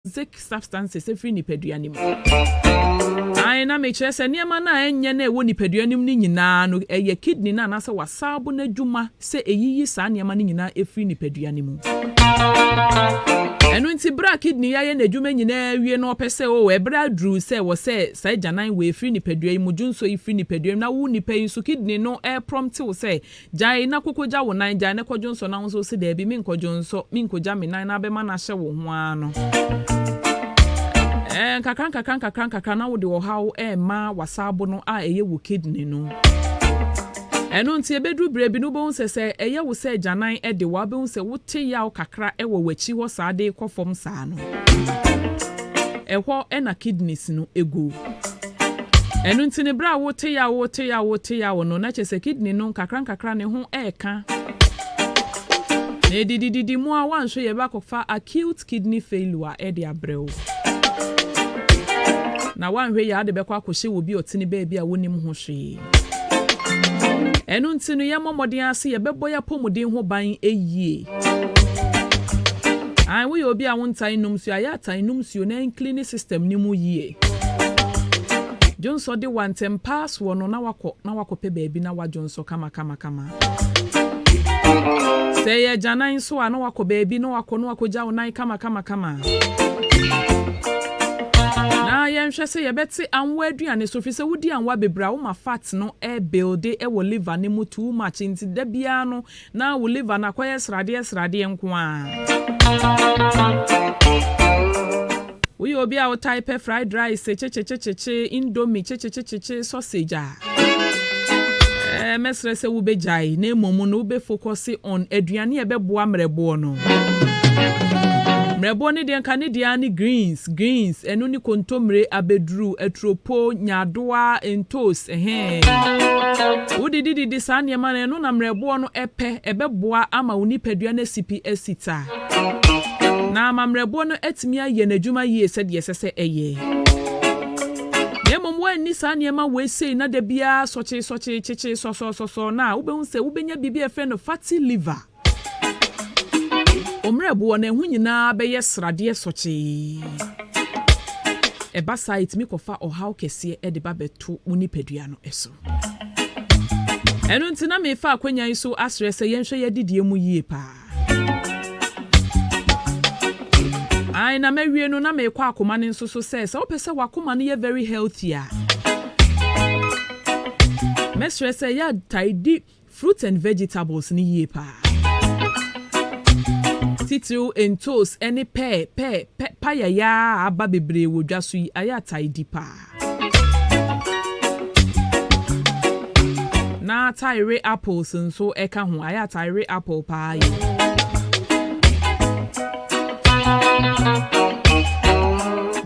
toxic substances afiri nipadua no mu. Aane, na mekyerɛ sɛ nneɛma no a ɛnyɛ na ɛwɔ nipadua no mu no nyinaa no, ɛyɛ kidney no anaasɛ w'asaabo no adwuma sɛ ɛyiyi saa nneɛma no nyinaa firi nipadua no mu. Ɛno nti berɛ a kidney ayɛ n'adwuma nyinaa awie na ɔpɛ sɛ o, ɛberɛ aduru sɛ wɔ sɛ saa agyanan wei firi nipadua yi mu, dwonsɔ yi firi nipadua yi mu, na wo nipa yi nso kidney no ɛreprɔmte wo sɛ Gyae na kokogya wo nan, gyae na kɔdwonsɔ na wo nso wose daabi menkɔdwonsɔ, menkogya me nan na abɛma no ahyɛ wo ho ara no, ɛɛ nkakra nkakra nkakra nkakra na wode ɔhaw rema w'asaabo no a ɛyɛ wo kidney no. Ɛno nti ɛbɛduru berɛ bi no wobɛhu sɛ sɛ ɛyɛ wo sɛ agyanan de wo a wobɛhu sɛ wote yaw kakra wɔ w'akyi hɔ saa de rekɔ fam saa no, ɛhɔ na kidneys no gu. Ɛno nti no, berɛ a wote yaw, wote yaw, wote yaw no, na kyerɛ sɛ kidney no nkakrankakra ne ho reka. Na ɛdidididi mu a, woanhwɛ yie bɛakɔfa acute kidney failure de abrɛ wo. Na woanhwɛ yie a, wode bɛkɔ akɔhyɛ wɔ obi a ɔte ne baabi a wonnim ho hwee. Ɛno nti no, yɛmmɔ mmɔden ara sɛ yɛbɛbɔ yɛn apɔmuden ho ban yie. Ae, woyɛ obi a wontaa nnom nsuo a, yɛ a taa nom nsuo na ɛncleane system no mu yie. Dwonsɔ de wo a, ntɛmpa ara soɔ no na woakɔ na woakɔpɛ baabi na woadwonsɔ kamakamakama. Sɛ ɛyɛ agyanan nso a, na wakɔ baabi, na wakɔ na wakɔgya wo nan kamakamakama. Na yɛnhwɛ sɛ yɛbɛte anwa aduane so, firi sɛ wodi anwa bebree a, woma fat no rebuilde wɔ liver no mu too much, nti da biara no, na wo liver no akɔyɛ sradeɛ sradeɛ nko ara. Woyɛ obi a wotae pɛ fried rice kyekyekyekye, indomie kyekyekyekye, sausage a, ɛɛ mɛsrɛ sɛ wobɛgyae na mmom no wobɛfokɔse on aduane a ɛbɛboa mmerɛboɔ no. Mmerɛboɔ no deɛ nka ne deɛ ara ne greens, greens, ɛno ne kontommire, abɛduru, aturopo, nyaadoa, ntoos, ɛhɛɛ. Wodidididi saa nneɛma no, ɛno na mmerɛboɔ no ɛpɛ, ɛbɛboa ama wo nipadua no asipi asita. na amammerɛboɔ no atumi ayɛ n'adwuma yie sɛdeɛ ɛsɛ sɛ ɛyɛ. Na mmom woanni saa nneɛma wei sei na da biara sɔkyeesɔkyee, kyekyee, sɔsɔɔsɔsɔɔ no a, wobɛhu sɛ wobɛnya biribi a yɛfrɛ no fatty liver. Wo mmerɛboɔ no, ɛho nyinaa bɛyɛ sradeɛ sɔkyee. Ɛba saa a, ɛtumi kɔfa ɔhaw kɛseɛ de ba bɛto wo nipadua no so. Ɛno nti na mefa akwannya yi so asrɛ sɛ yɛnhwɛ yɛn adidie mu yie paa. Ae na mawie no na meekɔ akoma no nso so sɛ sɛ wopɛ sɛ wakoma no yɛ very healthy a mɛsrɛ sɛ yɛ tae di fruits and vegetables no yie paa titiriw ntoos ne pɛɛ pɛɛ pɛ payaya a aba bebree wɔ dwa so yi ayɛ atae di paa. na tayere apples nso ɛka ho ayɛ a tayere apple paa yɛ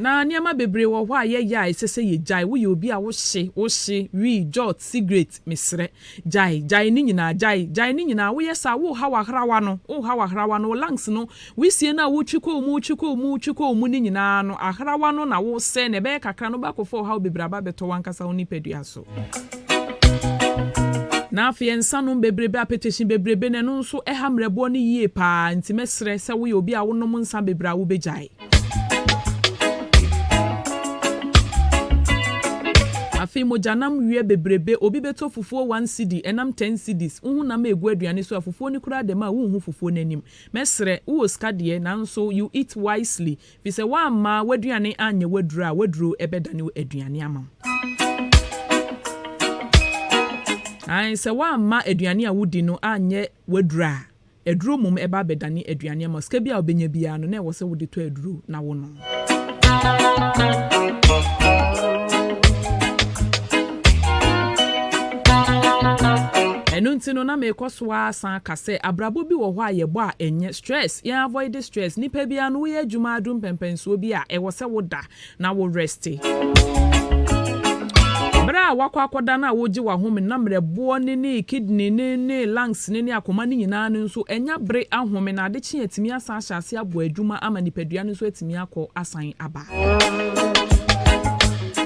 na nneɛma bebree wɔ hɔ a yɛyɛ a ɛsɛ sɛ yɛgyae woyɛ obi a wohye wohye wii jot cigarette mesrɛ Gyae, gyae ne nyinaa, gyae, gyae ne nyinaa, woyɛ saa, worehaw ahrawa no, worehaw ahrawa no, wo lungs no, wisie no a wotwi kɔ wo mu, wotwi kɔ wo mu, wotwi kɔ wo mu no nyinaa no, ahrawa no na woresɛe no, ɛbɛyɛ kakra no wobɛakɔfa ɔhaw bebree aba abɛtɔ w'ankasa wo nipadua so. Na afei nsanom bebrebe, apetehye bebrebe, na ɛno nso ɛha mmerɛboɔ no yie paa, nti mɛsrɛ sɛ woyɛ obi a wonom nsa bebree a wobɛgyae. Afei mogyanam wiɛ bebrebe, obi bɛtɔ fufuo one cedi, ɛnam ten cedis, wo honam ɛregu aduane so a fufuo no koraa dɛm a wonhu fufuo no anim. Mɛsrɛ, wowɔ sika deɛ, nanso you eat wisely, firi sɛ woamma w'aduane anyɛ wo aduro a w'aduro bɛdane wo aduane ama wo. Aane, sɛ woamma aduane a wodi no anyɛ w'aduro a, Aduro mmom ɛba abɛdane aduane ama wo. Sika biara a wobɛnya biara no, na ɛwɔ sɛ wode tɔ aduro na wonom. Ɛno nti no, na mekɔ so ara san ka sɛ, abrabɔ bi wɔ hɔ a yɛbɔ a ɛnyɛ, stress, yɛn avoide stress. Nnipa biara no, woyɛ adwuma ara, duru mpɛmpɛnsoɔ bi a, ɛwɔ sɛ woda. na wo reste. Bere a woakɔ akɔda no a wogye w'ahome na mmerɛboɔ no ne kidney no ne lungs no ne akoma no nyinaa no nso anya bere ahome na ade kye a atumi asan ahyɛ ase abɔ adwuma ama nipadua no nso atumi akɔ asan aba.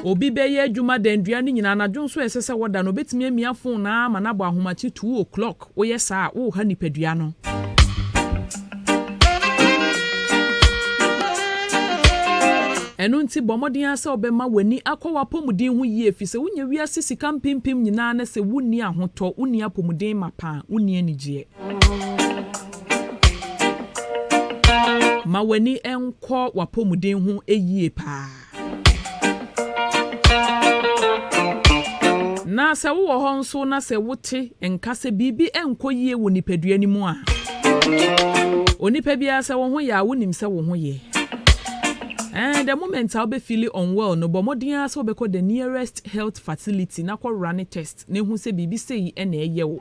Obi bɛyɛ adwuma da nnua no nyinaa anadwo nso a ɛsɛ sɛ ɔda no obetumi amia phone no ara ama no abɔ ahomakye two o'clock. Woyɛ saa a, woreha nipadua no. Ɛno nti, bɔ mmɔden ara sɛ wobɛma w'ani akɔ w'apɔmuden ho yie, efisɛ wonya wiase sika mpempem nyinaa na sɛ wunni ahotɔ, wunni apɔmuden mapa a, wunni anigyeɛ. Ma w'ani nkɔ w'apɔmuden ho yie paa. Na sɛ wowɔ hɔ nso na sɛ wote nka sɛ biribi nkɔ yie wɔ nipadua no mu a, onipa biara sɛ wo ho yɛ a wonim sɛ wo ho yɛ. Eh, the moment a wobɛfeeli unwell no, bɔ mmɔden ara sɛ wobɛkɔ the nearest health facility na kɔwora ne test. na hu sɛ biribi sei na ɛyɛ wo.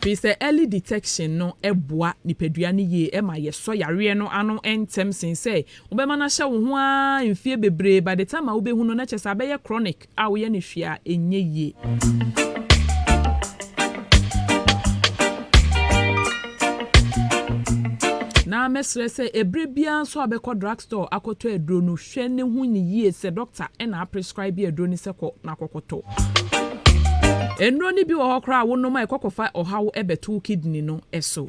Firi sɛ early detection no boa nipadua no yie, ɛma yɛsɔ yareɛ no ano ntɛm sen sɛ wobɛma no ahyɛ wo ho ara mfeɛ bebree, by the time a wobɛhu no na kyerɛ sɛ abɛyɛ chronic a woyɛ no hwee a ɛnyɛ yie. Na mɛsrɛ sɛ ɛberɛ biara nso a wobɛkɔ drug store akɔtɔ aduro no, Hwɛ ne ho ni yie sɛ dɔkta na a prescribe aduro no sɛ kɔ na kɔkɔtɔ. Nnuro no bi wɔ hɔ koraa a wo nom a ɛkɔ kɔfa ɔhaw bɛto wo kidney no so.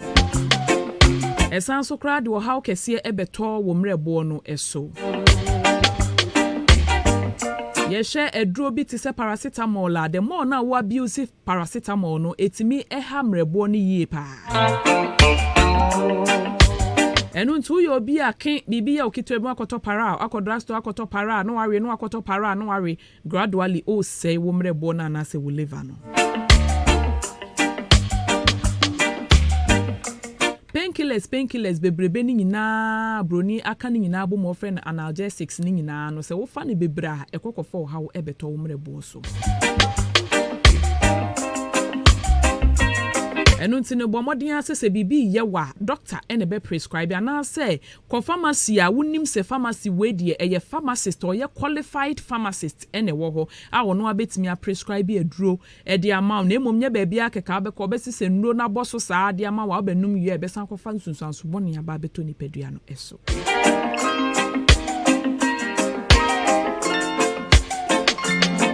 Ɛsan so koraa de ɔhaw kɛseɛ bɛtɔ wo mmerɛboɔ no so. Yɛhwɛ aduro bi te sɛ paracetamol a the more no a wo abuse Paracetamol no, etumi ha mmerɛboɔ no yie paa. Ɛno nti woyɛ obi a ke biribi yɛ wo ketewa bi woakɔtɔ para a, woakɔ drug store akɔtɔ para a na wawe, na woakɔtɔ para a na wawe, gradually ɔresɛe wo mmerɛboɔ no anaasɛ wo liver no. Painkillers, painkillers bebrebe no nyinaa a buroni aka no nyinaa abom a wɔfrɛ no analgesics no nyinaa no, sɛ wofa no bebree a, ɛkɔ kɔfa ɔhaw bɛtɔ wo mmerɛboɔ so. Ɛno nti no, bɔ mmɔden ara sɛ sɛ biribi reyɛ wo a, dɔkta na ɛbɛprescribe anaasɛ kɔ pharmacy a wonim sɛ pharmacy wei deɛ ɛyɛ pharmacist, ɔyɛ qualified pharmacist na ɛwɔ hɔ a ɔno ara bɛtumi aprescribe aduro de ama wo na mmom nyɛ baabiara kɛkɛ a wobɛkɔ wobɛsesa nnuro no abɔ so saa de ama wo a wobɛnom wie a ɛbɛsan akɔfa nsunsuanso bɔne aba abɛtɔ nipadua no so.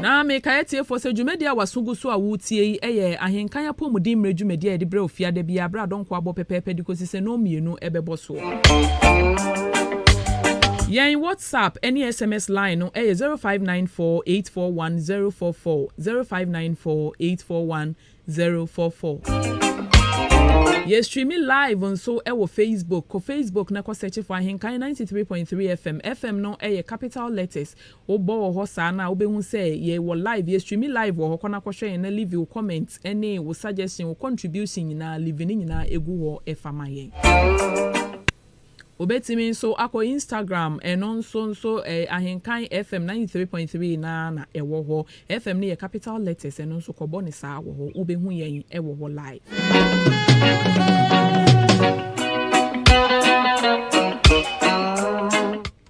Na mekae atiefoɔ sɛ dwumadie a w'aso gu so a woretie yi yɛ Ahenkan Apɔmuden Mmerɛ dwumadie a yɛde brɛ wo fiada biara berɛ a dɔnkɔ abɔ pɛpɛɛpɛ de kɔsi sɛ nnɔnmmienu bɛbɔ soɔ. Yɛn WhatsApp ne SMS line no yɛ zero five nine four eight four one zero four four, zero five nine four eight four one zero four four. Yɛ streami live nso wɔ Facebook. Kɔ Facebook na kɔ sɛkye for Ahenkan ninety three point three FM. FM no yɛ capital letters. Wo bɔ wɔ hɔ saa no a, wobɛhu sɛ yɛ wɔ live. Yɛ streami live wɔ hɔ. Kɔ na kɔ hwɛ yɛn na livi wo comment ne wo suggestion, wo contribution nyinaa, livi ne nyinaa gu hɔ fa ma yɛn. Wobɛtumi nso akɔ Instagram, ɛno nso nso Ahenkan FM ninety three point three no ara na ɛwɔ hɔ. FM no yɛ capital letters, ɛno nso kɔbɔ no saa wɔ hɔ, wobɛhu yɛn wɔ hɔ live.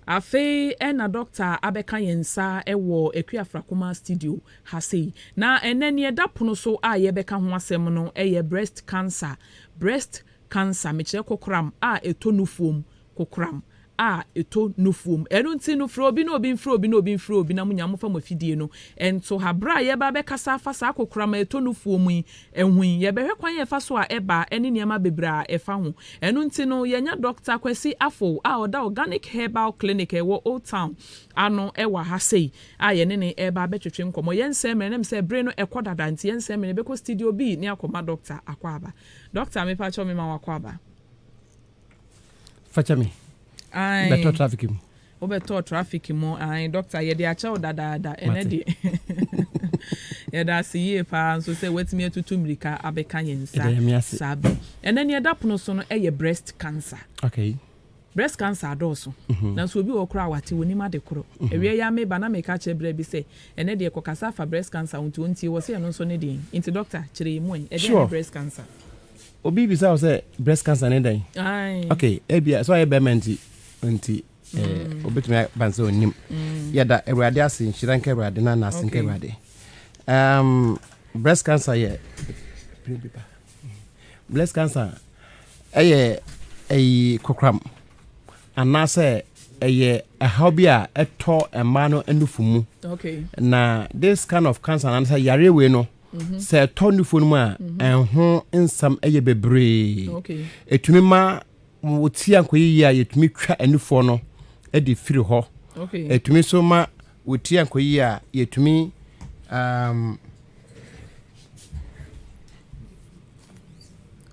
Afei na Dɔkta abɛka yɛn nsa wɔ Akuafra Kumaa Studio ha sei. Na ɛnnɛ nea ɛda pono so a yɛbɛka ho asɛm no yɛ breast cancer, breast Cancer, mekyerɛ kokoram a ɛtɔ nufuom, kokoram a ɛtɔ nufuom. Ɛno nti no, frɛ obi na obi mfrɛ obi na obi mfrɛ obi na mo nyinaa momfa mo afidie no nto ha. Berɛ a yɛreba abɛkasa afa saa kokoram a ɛtɔ nufuom yi ho yi, yɛbɛhwɛ kwan a ɛfa so a ɛba ne nneɛma bebree a ɛfa ho. Ɛno nti no, yɛanya Dɔkta Kwasi Afful a ɔda Organic Herbal Clinic a ɛwɔ Old Town ano wɔ ha sei a yɛne no reba abɛtwetwe nkɔmmɔ. Yɛnsɛe mmerɛ, na ɛnim sɛ bere no ɛkɔ dada nti yɛnsɛe mmerɛ, yɛbɛkɔ studio B na yɛakɔma Dɔkta akɔ aba. Doctor mepakyɛw mema w'akwaaba. Fakyɛ me, bɛtɔ traffic mu. Wobɛtɔ traffic mu ae doctor yɛde akyɛ wo dadaada ɛnɛ deɛ yɛda ase yie paa nso sɛ woatumi atutu mmirika abɛka yɛn nsa saa bɛ. Ɛnɛ nea ɛda pono so no ɛyɛ breast cancer. Okay. Breast cancer adɔɔso, nanso obi wɔ hɔ koraa a wate, onim ade koro. Awia yi ara meba na meka akyerɛ bra bi sɛ, ɛnnɛ deɛ kɔkasa fa breast cancer ho nti ɔntie, ɔse ɛno nso ne deɛn? Nti doctor, kyerɛ yɛn mu ɛ, ɛdeɛn ne breast cancer? Sure. Obi bisa wo sɛ breast cancer ne dɛn? Aye. Okay, ebia sɛ ɔyɛ bɛrima nti, nti eh, obetumi aba sɛ ɔnnim. Yɛda Awurade ase, nhyira nka Awurade na n'ase nka Okay. Awurade. Um, breast cancer yɛ biribi ba. Breast cancer yɛ ɛyi kokoram anaasɛ ɛyɛ ɛhaw bi a ɛtɔ mmaa no nufu mu na this kind of cancer anaasɛ yareɛ wei no mhm. sɛ ɛtɔ nufu no mu a mhm. ɛho nsɛm yɛ bebree ɛtumi ma wɔtia nkɔyiyie a yɛtumi twa nufoɔ no de firi hɔ ɛtumi nso ma Wotua nkoyi a, yɛtumi um.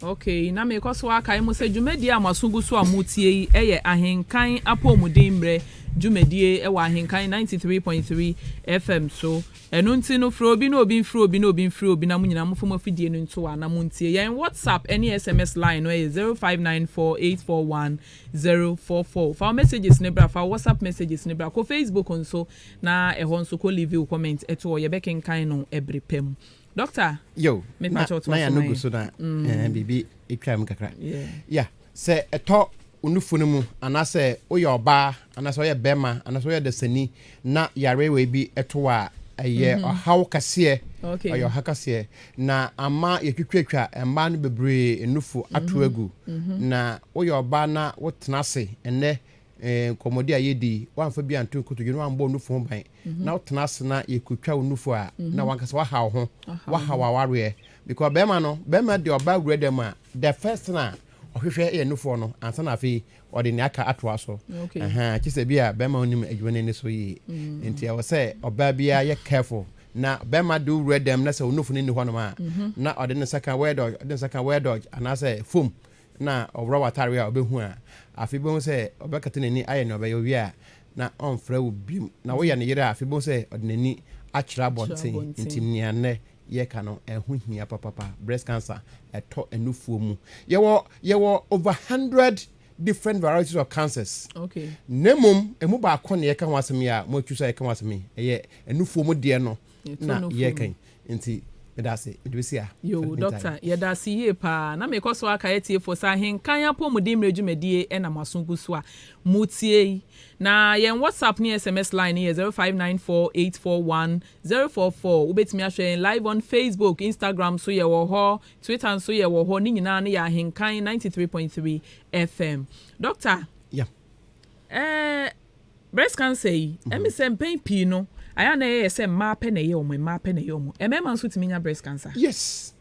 Ok, na mekɔ so akae mo sɛ dwumadie a mo aso gu so a motie yi yɛ Ahenkan Apɔmuden Mmerɛ dwumadie wɔ Ahenkan 93.3 FM so. Ɛno nti no, frɛ obi na obi mfrɛ obi na obi mfrɛ obi na mo nyinaa momfa mo afidie no nto a na montie. Yɛn WhatsApp ne SMS line no yɛ 0594841999. zero four four fa wo messages no bra fa wo WhatsApp messages no bra kɔ Facebook nso na ɛhɔ nso kɔ leave wo comment to hɔ yɛbɛkenkan no ɛbere pa mu doctor yo mepa kyɛw to aso no gu so na mm. biribi atwa mu kakra yeah yeah sɛ ɛtɔ onufo no mu anaasɛ woyɛ ɔbaa anaasɛ woyɛ bɛrima anaasɛ woyɛ dasani na yare wei bi to wo a, ɛyɛ mm-hmm. ɔhaw kɛseɛ ɔyɛ ɔha kɛseɛ na ama yɛtwitwatwa mmaa no bebree nufu mm-hmm. ato agu mm-hmm. na woyɛ ɔbaa na wotena ase ɛnɛ eh, nkɔmmɔdi a yɛdi woamfa bi anto nkotodwe na woambɔ nufu ho ban na wotena ase na yɛkotwa wo nufu a na wankasa waha wo ho waha wawareɛ because bɛrima no bɛrima de ɔbaa wura dɛm a the first thing a ɔhwehwɛ yɛ nufoɔ no ansa na afei ɔde nea aka atoa so. Kyerɛ sɛ bi a bɛrima wonim adwuma no ani so yie. Mm. Nti ɛwɔ sɛ ɔbaa biara yɛ careful na bɛrima de wowura dɛm na sɛ onofo no nni hɔnom a mhm. na ɔde ne nsa ka word dodge ɔde ne nsa ka word dodge anaasɛ fom na ɔworɔ w'atare a ɔbɛhu a afei bɛhu sɛ ɔbɛkata n'ani ayɛ nea ɔbɛyɛ owie a na ɔmfrɛ wo biom na woyɛ ne yere a afei bɛhu sɛ ɔde n'ani akyerɛ abɔnten nti nea nnɛ yɛka no ɛho hia papapa breast cancer ɛtɔ nufuo mu yɛwɔ yɛwɔ over hundred different varieties of cancers okay na mmom ɛmu baako na yɛka ho asɛm yi a mo atwi sɛ yɛka ho asɛm yi ɛyɛ nufuo mu deɛ no na yɛka nti meda ase mede bɛsi a yo dɔkta yɛda ase yie paa na mekɔ so aka atiefoɔ sɛ ahenkan apɔmuden mmerɛ dwumadie ɛna mo aso gu so a motie yi na yɛn whatsapp ne sms line no yɛ 0594841000 Zero four four, Wobɛtumi ahwɛ yɛn live on Facebook, Instagram nso yɛwɔ hɔ, Twitter nso yɛwɔ hɔ, ne nyinaa no yɛ Ahenkan ninety three point three FM. Dɔkta, Yeah. ɛɛ breast cancer yi, ɛmi mhm. sɛ mpɛn pii no, ayɛ a na ɛyɛ sɛ mmaa pɛ na ɛyɛ wɔn, mmaa pɛ na ɛyɛ wɔn. Mmarima nso tumi nya breast cancer. Yes.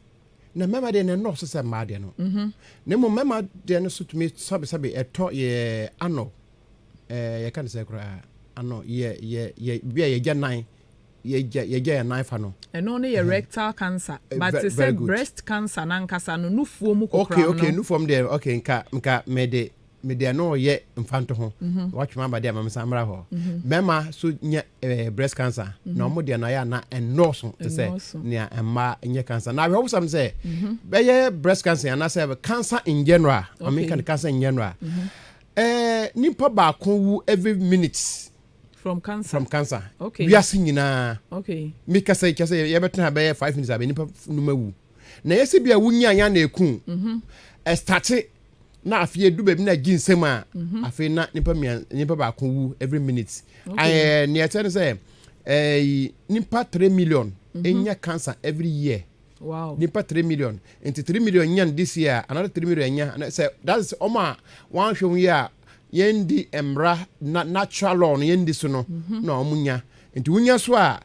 Na mmarima deɛ na ɛnɔɔso sɛ mmaa deɛ no. Mhm. Na mmom mmarima deɛ no so tumi sɛbesɛbe ɛtɔ yɛ ano. Ɛɛ, yɛka no sɛ koraa, ano yɛ yɛ yɛ bi a yɛgya nan, yɛgya yɛgya yɛn nan fa no. Ɛno no yɛ rectal cancer, eh, but te sɛ breast cancer n'ankasa no, nufuo mu kokoram no. Okay, okay, nufuo mu deɛ, okay, nka nka mede mede ɛno yɛ mfanto ho. Mhm. Watwem aba deɛ ama me san mmra hɔ. Mhm. Mmarima so nya ɛɛ eh, breast cancer, mhm. na wɔn deɛ no ayɛ ana ɛnɔɔso te sɛ nea mmaa nyɛ cancer. Na awɛwosam sɛ bɛyɛ breast cancer anaasɛ cancer in general, wɔn nka no cancer in general. Eh, nipa baako wu every minutes. From cancer. From cancer. Okay. Wiase nyinaa. Okay. Mi kasa kyɛ sɛ yɛbɛtena bɛyɛ five minutes abɛ nipa num awu. Na yɛsɛ bi a wunya anya na eku. Mhm. Ɛstate na afei edu baabi na gye nsɛm a. Mhm. Afei na nipa mia nipa baako wu every minute. Okay. Ɛɛ nea ɛkyɛ ne sɛ ɛɛ nipa three million. Mhm. Enya cancer every year. Wow. Nipa three million. Nti three million nyan this year, another three million nya. Na sɛ that is ɔmo a wɔanhwɛ ho yi a yɛndi mmara na natural law no yɛndi so no mhm. na ɔmo nya. Nti wonya so a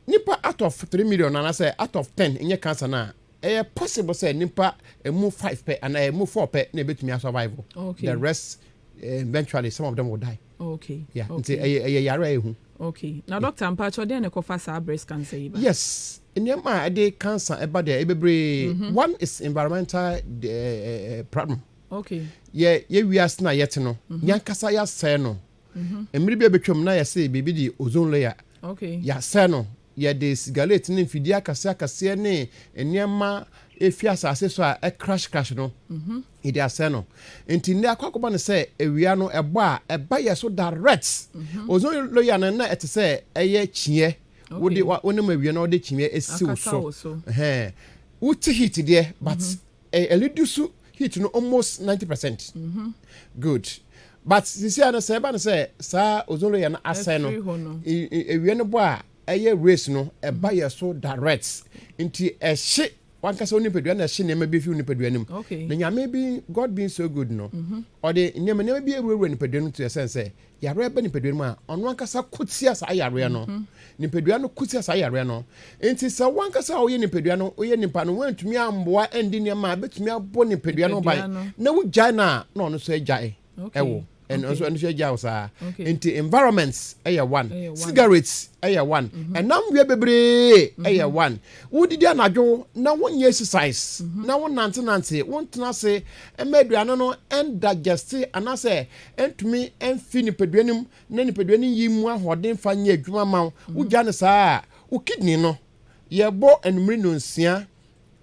nipa out of three million anaasɛ out of ten nyɛ cancer no a ɛyɛ possible sɛ nipa emu five pɛ anaa emu four pɛ na ebetumi asurvive. Okay. The rest eh, eventually some of them will die. okay yeah okay. nti ɛyɛ ɛyɛ yare a ehu okay na doctor mpa kyɛ ɔdɛn na ɛkɔfa saa breast cancer yi ba yes nneɛma a ɛde cancer ɛba deɛ ɛbebree mhm. one is environmental uh, uh, problem okay yɛ yɛ wiase na yɛte no mhm. yankasa yasɛɛ no mhm. mmiri bi a betwam na yɛsɛ biribi de ozone layer okay yasɛɛ no yɛde sigaret ne mfidie akɛseɛ akɛseɛ ne nneɛma efi asase so a ɛkrash krash no Yɛde asɛe no. Nti nnɛ akɔ akɔba no sɛ awia no ɛbɔ a ɛba yɛ so direct. Mhm. Ozone layer no na ɛte sɛ ɛyɛ kyiɛ. Wode wonim awia na wode kyiɛ esi wo so. Ɛhɛn. Wote heat deɛ but mhm. ɛlidi so heat no almost 90%. Mhm. Good. But sisi a no sɛ ɛba no sɛ saa ozone layer no asɛe no awia no bɔ a ɛyɛ race no ɛba yɛ so direct. Nti ɛhye wankasa wo nipadua na ɛhye nneɛma bi fi wo nipadua no mu okay. na nyame bi god being so good no mhm. ɔde mm -hmm. nneɛma nneɛma bi awurawura nipadua no mu to ɛsɛn sɛ yareɛ bɛ nipadua no mu a ɔno ankasa ko tia saa yareɛ no mm -hmm. nipadua no ko tia saa yareɛ no nti sɛ wankasa a woyɛ nipadua no woyɛ nipa no woantumi amboa ɛndi nneɛma a bɛtumi abɔ nipadua no ban na wogyae no a na ɔno so agyae ɛwo okay. ɛno nso ɛno nso agya wo saa nti environments ɛyɛ one cigarettes ɛyɛ one mhm. ɛnam wiɛ bebree mhm. ɛyɛ one wodidi anadwo na wonyɛ exercise mhm. na wonantenante wontena ase ɛma aduane no ɛndigeste anaasɛ ɛntumi ɛnfi nipadua no mu na nipadua no yi mu ahoɔden fa nyɛ adwuma ma wo wogya no saa wo kidney no yɛbɔ anumere nonsia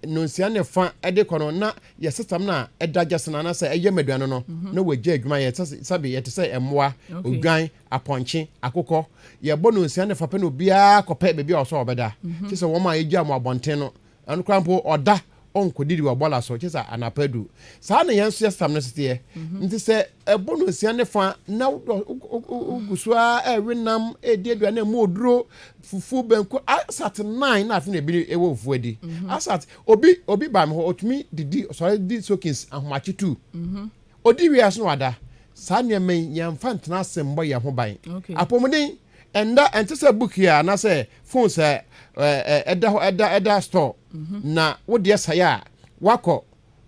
nnɔnsia ne fa de kɔ no na yɛsesam no a ɛda gyesena anaasɛ ɛyɛ maduan no no mhm. na wɔagya adwuma yɛ sɛbe yɛte sɛ mmoa odwan apɔnkye akokɔ yɛbɔ nnɔnsia ne fa pɛ na obiara kɔpɛ baabi a ɔsɔ ɔbɛda mhm. kyɛ sɛ wɔn a yɛgya mu abɔnten no ɛno koraa mpo ɔda ɔnkɔdidi wɔ bɔla so kyɛ sɛ anapa du saa na yɛn nso yɛsesam no seteɛ mhm. nti sɛ ɛbɔ nnɔnsia ne fa na wogu so a ɛwe nam ɛdi aduane mu oduro Fufuo banku asat nnan na afei na ebi wɔ fufuo adi. Mhm. Asat obi obi ba mi hɔ otumi didi sɔre di sokins ahomakye tu. Mhm. Odi wie aso na wada. Saa nneɛma yi yɛn nfa ntena ase mbɔ yɛn ho ban. Apɔmuden ɛnda ɛnte sɛ book yi a anaasɛ phone sɛ ɛɛ ɛda hɔ ɛda ɛda store mhm. na wodeɛ sae a wakɔ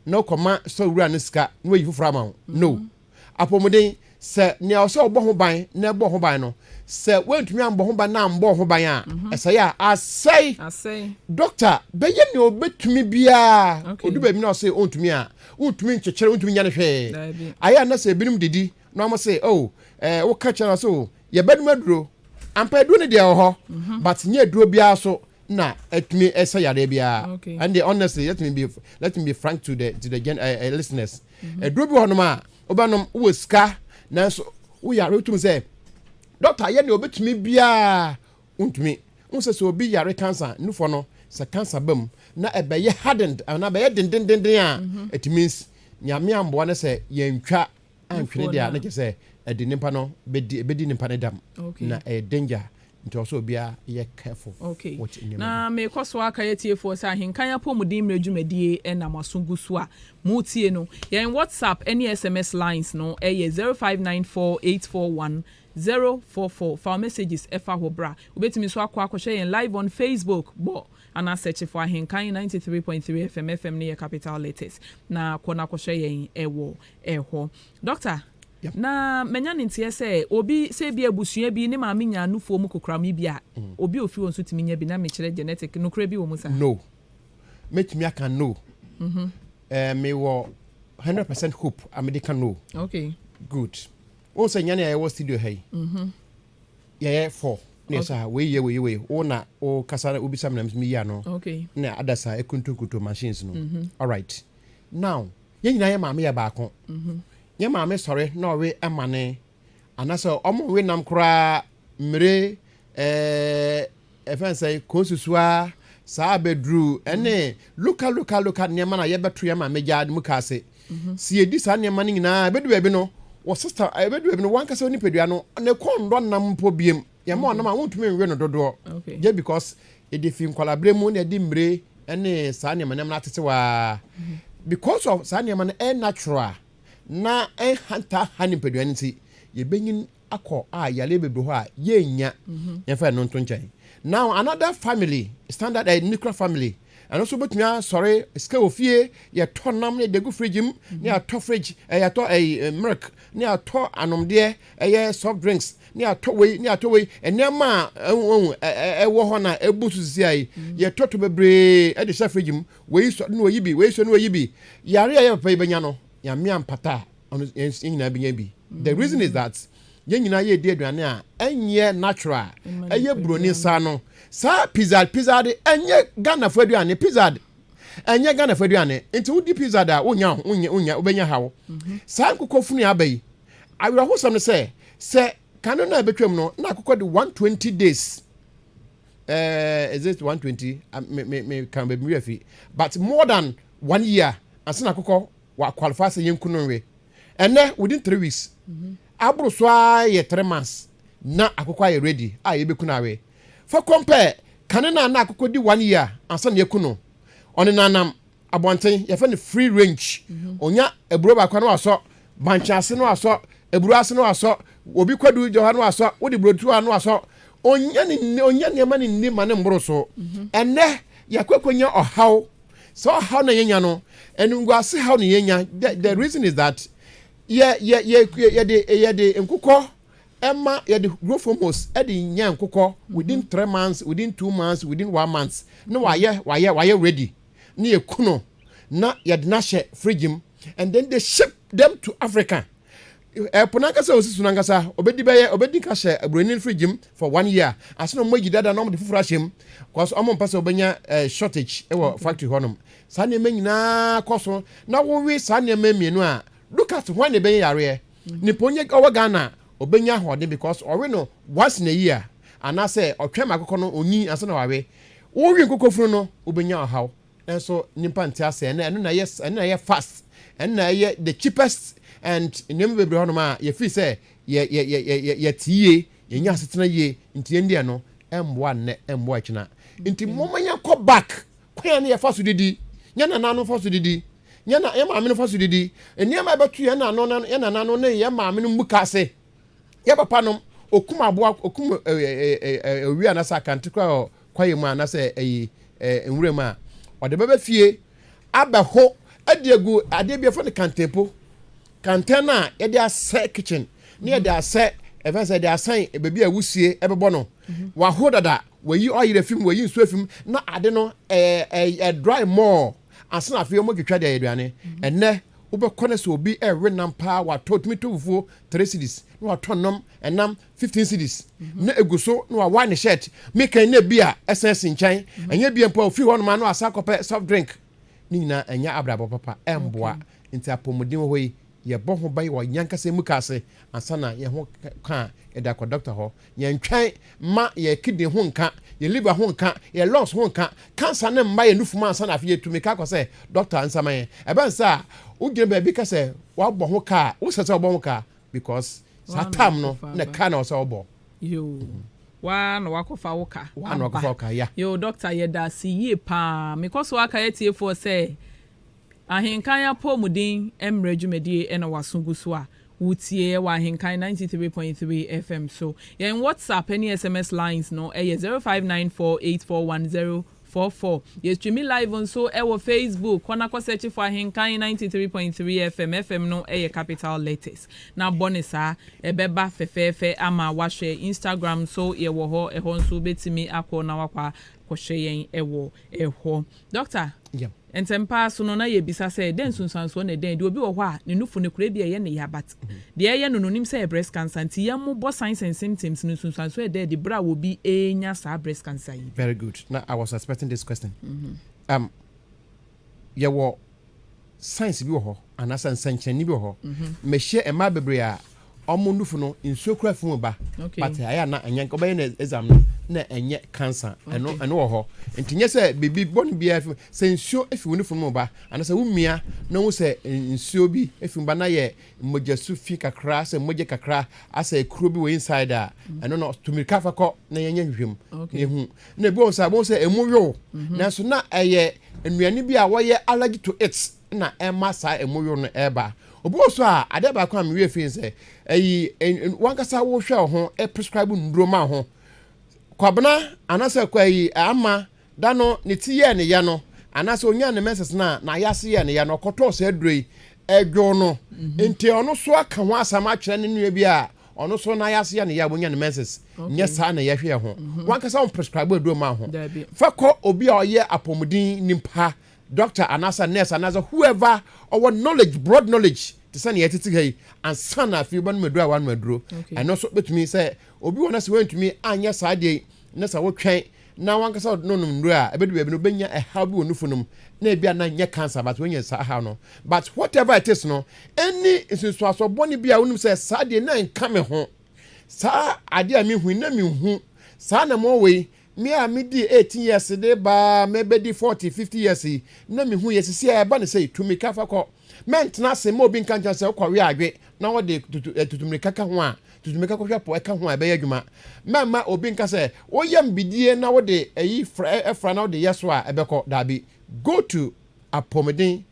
na ɔkɔma store wura ne sika na wayi foforɔ ama wo no Apɔmuden, Sɛ nea ɔsɛ ɔbɔ ho ban na ɛbɔ ho ban no, sɛ wantumi ammɔ ho ban na ammɔ ho ban a, ɛsɛe a, asɛe. Dɔkta bɛyɛ nea ɔbɛtumi biara, ɔdu baabi na ɔse ɔntumi a, wontumi nkyekyere, wontumi nya no hwee. Ayɛ a na sɛ ebinom didi na wɔn se, oh, ɛɛ, woka kyerɛ no sɛ, oh, yɛbɛnom aduro. Ampa aduro no deɛ ɛwɔ hɔ, but nyɛ aduro biara so na ɛtumi ɛsɛ yareɛ biara. And honestly, let me be, let me be frank to the, to the gen, uh, listeners. ɛduro bi hɔnom a wobɛnom wowɔ sika nanso woyare wotum sɛ dɔkta yɛ deɛ ɔbɛtumi biara wontumi wohu sɛ sɛ obi yare kansa nufɔ no sɛ kansa ba mu na ɛbɛyɛ hardened anaa ɛbɛyɛ dendendenden a it means nyame amboa no sɛ yɛntwa antwene deɛ a na kyɛ sɛ ɛde nipa no bɛdi nipa no dam na ɛyɛ danger Nti ɔsɛ obiara yɛ careful Okay. with nneɛma Na bi. merekɔ so akae atiefoɔ sɛ Ahenkan Apɔmuden Mmerɛ dwumadie na mo aso gu so a moretie no. Yɛn WhatsApp ne SMS lines no yɛ zero five nine four eight four one zero four four. Fa wo messages fa hɔ bra. Wobɛtumi nso akɔ akɔhwɛ yɛn live on Facebook. Bɔ anaa search for Ahenkan ninety three point three FM, FM no yɛ capital letters, na kɔ na kɔhwɛ yɛn wɔ hɔ. Dɔkta, na manya ne nteɛ sɛ obi sɛ ebi abusua bi ne maame nyaa nufoɔ mu kokoram yi bi a, obi a ofi hɔ nso tumi nya bi na mekyerɛ genetic. Nokorɛ bi wɔ mu saa? No. Mɛtumi aka no. Eh, mewɔ 100% hope a mede ka no. Okay. Good. Wohu sɛ nyane a yɛwɔ studio ha yi, yɛyɛ fɔ na yɛsɛ ha, wei yɛ wei wei, wo na wo kasa na wobisa me na meyi ano. Okay. Na ada saa ɛkuntunkuntu machines no. All right. Now, Yɛn nyinaa yɛ maame yɛ baako. Yɛn maame sɔre na ɔwe ɛmane anasɛ ɔmo nwe nam koraa mmire ɛfɛn sɛ konsusua saa abɛduru ɛne loka loka loka nneɛma na yɛbɛto yɛn maame gya mu ka ase. Mhm. Si yɛdi saa nneɛma no nyinaa ɛbɛdu baabi no wɔ sista ɛbɛdu baabi no wankasa nipadua no na ɛkɔ nnɔ nam mpo biem. yɛn mma ɔnam a wontumi nwe no dodoɔ gye because ɛde fi nkwalaberɛ mu na ɛde mmire ne saa nneɛma nneɛma no atete waa because of saa nneɛma no ɛyɛ natural na ɛnhanta ha ne mpadua no nti yɛbɛnyin akɔ a yare bebree hɔ a yɛnnya yɛmfa ɛno nto nkyɛn now another family standard uh, nuclear family Ɛno nso wobɛtumi asɔre sika wɔ fie, yɛtɔ nam ne dagu fridge mu, mhm. ne atɔ fridge, eh, yɛatɔ eh, eh, milk, ne atɔ anomdeɛ, ɛyɛ eh, soft drinks, ne atɔ wei, ne atɔ wei, nneɛma a ɛwɔ eh, eh, hɔ na ɛbu so sisi ayi, mhm. yɛtɔ to bebree de hyɛ fridge mu, wei sɔ ne wɔyi bi, wei sɔ ne wɔyi bi. Yare a yɛpɛpɛ yi bɛnya no, nyame ampata a, ɔno yɛn nyinaa bɛnya bi. The reason is that, mm yɛn nyinaa yɛredi aduane a ɛnyɛ natural a ɛyɛ buroni nsa no saa pizza pizza de ɛnyɛ ghanafo aduane pizza de ɛnyɛ ghanafo aduane nti wodi pizza de a wonya wonya wonya wobɛnya haw mhm. saa nkokɔ funu aba yi awerɛhosɛm no sɛ sɛ kane no a ɛbɛtwam no na akokɔ de 120 days uh, is it 120 uh, me me me kan baabi mi afi but more than one year ansa na akokɔ Wa qualify sɛ yɛnku no nwe. Ɛnɛ within three weeks. Aboro so ara yɛ three months na akokɔ ayɛ ready a yɛbɛku no awe. Fa kɔm pɛ kane no a na akokɔ di one year ansa na yɛaku no. Ɔnenanam abɔnten, yɛfrɛ no free range. Ɔnya aburo baako a na wasɔ, bankye ase na wasɔ, aburo ase na wasɔ, obi kwadu gya hɔ a na wasɔ, wode burodo a na wasɔ. Ɔnya ne, ɔnya nneɛma no nni ma ne mmoro so. Ɛnɛ yɛakɔ akɔnya ɔhaw. Sɛ ɔhaw na yɛnya no, animguase haw na yɛnya. The, the reason is that yɛ yɛ yɛ yɛde yɛde nkokɔ ɛma yɛde growth hormones ɛde nya nkokɔ within three months, within two months, within one month na wayɛ wayɛ wayɛ ready na yɛ kuno na yɛde n'ahyɛ fridge mu and then they ship them to Africa. Ɛpo no ankasa osi so no ankasa obedi bɛyɛ obedi nka hyɛ aburoni no fridge mu for one year ase na wɔn ayi dada na wɔn de foforɔ ahyɛ mu kɔs wɔn mpɛ sɛ wɔbɛnya eh, shortage wɔ mm-hmm. factory hɔnom saa nneɛma nyinaa kɔ so na wowe saa nneɛma mmienu a look at wɔn na ebɛnyɛ yareɛ mm-hmm. nipa onye ɔwɔ ghana obɛnya ahoɔden because ɔwe no once in a year anaasɛ ɔtwɛn ma akokɔ no onyin ansa na wawe wowe nkokofunu no obɛnya ɔhaw Nanso nyimpa nntse ase na ɛno na ɛyɛ ɛno na ɛyɛ fast ɛno na ɛyɛ the cheapest and nneɛma bebree hɔnom a yɛfiri sɛ yɛ yɛ yɛ yɛ yɛ yɛte yie yɛnya asetena yie nti yɛn deɛ no ɛmboa nnɛ ɛmboa akyina nti mɔmɔ yɛn kɔ back kwan a ne yɛfa so didi yɛn nana no fa so didi yɛn na yɛn maame no fa so didi nneɛma a ɛbɛto yɛn nana no yɛn nana no ne yɛn maame no mu ka ase. Yɛ papa nom okum aboa okum owia anasɛ akante kora wɔ kwaeɛ mu anasɛ ɛyi nwura mu a ɔde bɛbɛ fie abɛho adi agu adeɛ bi ɛfɔ no kantempo kantɛn a yɛde asɛ kitchen ne yɛde asɛ ɛfɛ sɛ yɛde asɛn baabi a wusie ɛbɛbɔ no mhm. waho dada wayi ɔyere fim wayi nsuo fim na ade no ɛɛ ɛɛ dry more Ansa na afei wɔretwitwa de ayɛ aduane. Ɛnnɛ, wobɛkɔ na sɛ obi rewe nam paa watɔ, otumi tɔ fufuo three cedis, na watɔ nnɔm ɛnam fifteen cedis, na egu so na wawae ne shirt. Mekan na ebi a ɛsan si nkyɛn. Ɛnyɛ bia mpo a ofiri hɔnom a na wasan akɔpɛ soft drink. Ne nyinaa ɛnyɛ abrabɔ papa, ɛmboa. Nti apɔmuden wɔ hɔ yi, Yɛbɔ ho ban wɔ yɛankasa mu ka ase ansa na yɛn ho ka a, yɛde akɔ dɔkta hɔ. Yɛntwɛn mma yɛn kidney ho nka, yɛn liver ho nka, yɛn lungs ho nka, cancer no mma yɛn nufu mu ansa na afei yɛatumi ka akɔ sɛ dɔkta nsa ma yɛn. Ɛba no saa a, wogyina baabi ka sɛ woabɔ ho ka a, wosɛ sɛ wobɔ ho ka because saa time no na ka na ɛwɔ sɛ wobɔ. Yoo, woa na woakɔfa wo ka aba. Yoo, dɔkta yɛda ase yie paa. Mekɔ so aka atiefoɔ sɛ Ahenkan Apɔwmuden Mmra Dwumadie na W'aso Gu So a Wotiee wɔ Ahenkan ninety three point three FM so. Yɛn WhatsApp ne SMS lines no yɛ zero five nine four eight four one zero four four. Yɛstreami live nso wɔ Facebook. Kɔ na kɔ sɛkye for Ahenkan ninety three point three FM, FM no yɛ capital letters, na bɔ no saa. Ɛbɛba fɛfɛɛfɛ ama woahwɛ. Instagram nso yɛwɔ hɔ, ɛhɔ nso wobɛtumi akɔ na woakɔ akɔhwɛ yɛn wɔ hɔ. Dɔkta, ntɛm pa ara so no na yɛrebisa sɛ, dɛn nsunsuansoɔ na ɛdɛn de obi wɔ hɔ a ne nufu no kura ebi a ɛyɛ ne ya but deɛ ɛreyɛ no no onim sɛ ɛyɛ breast cancer nti yɛn mo bɔ signs and symptoms no nsunsuansoɔ ɛda adi berɛ a obi renya saa breast cancer yi bi? Very good. Na I was expecting this question. Um, yɛwɔ science bi wɔ hɔ anaasɛ nsɛnkyerɛnne bi wɔ hɔ mɛhyɛ mmaa bebree a wɔn nufu no nsuo kura fi mu ba but ayɛ na ɛnyɛ nka ɔbɛyɛ na exam no na ɛnyɛ cancer ɛno ɛno wɔ hɔ nti nyɛ sɛ biribi bɔne biara fi sɛ nsuo efi wo nufu no mu ba anaasɛ wo mia na wo sɛ nsuo bi efi mu ba na yɛ mogya su fi kakra sɛ mogya kakra asɛ ekuro bi wɔ inside a ɛno no tumirika fa kɔ na yɛnyɛ hwehwɛ mu na ehu na ebi wɔn sɛ wɔn sɛ emu yow mhm. nanso na ɛyɛ nnuane bi a wɔyɛ allergy to it na ɛma saa emu yow no ɛba obi wɔ so a adeɛ baako a mewie fi sɛ ɛyi wankasa wohwɛ ho prescribe nnuro ma ho kwabena anaasɛ kwa yi ama da no ne ti yɛ ne yɛ no anaasɛ onya ne mɛsɛs no a na ayɛ ase yɛ ne yɛ no ɔkɔtɔɔ saa aduro yi ɛdwo no mhm. nti ɔno so aka ho asɛm atwerɛ ne nua bi a ɔno so na yɛase yɛ ne yɛ a wɔnya ne menses nyɛ saa na yɛhwɛ yɛ ho mhm. wankasa wɔn prescribe aduro ma ho fa kɔ obi a ɔyɛ apɔmuden nipa doctor anaasɛ nurse anaasɛ whoever ɔwɔ knowledge broad knowledge te sɛ nea yɛtete ha yi ansa na afei wobɛnom aduro a woanom aduro ɛno nso bɛtumi sɛ obi wɔ no sɛ woantumi anyɛ saa deɛ na sɛ wotwɛn na wankasa ɔde no nom nnuro a ebedu baabi no obenya ɛhaw bi wɔ nufu no mu na ebi a na nyɛ cancer but wanya saa ɛhaw no but whatever it is no ɛne nsunsuasoɔ bɔne bi a wonim sɛ saa deɛ na nka me ho saa adeɛ a mehu na menhu saa na mɔwɔ yi me a medi 18 years de baa mɛbɛdi 40 50 years yi na mehu yɛ sisi a ɛba ne sɛ tumi ka fa kɔ mɛntena ase ma obi nka nkyɛn sɛ wokɔwe adwe na wɔde tutu eh, tutumirika ka ho a tutu mmirika kɔhwɛ po ɛka ho a ɛbɛyɛ adwuma. Mɛmma obi nka sɛ woyam bidie na wode ayi fra fra na wode yɛ so a ɛbɛkɔ. Daabi. Go to apɔmuden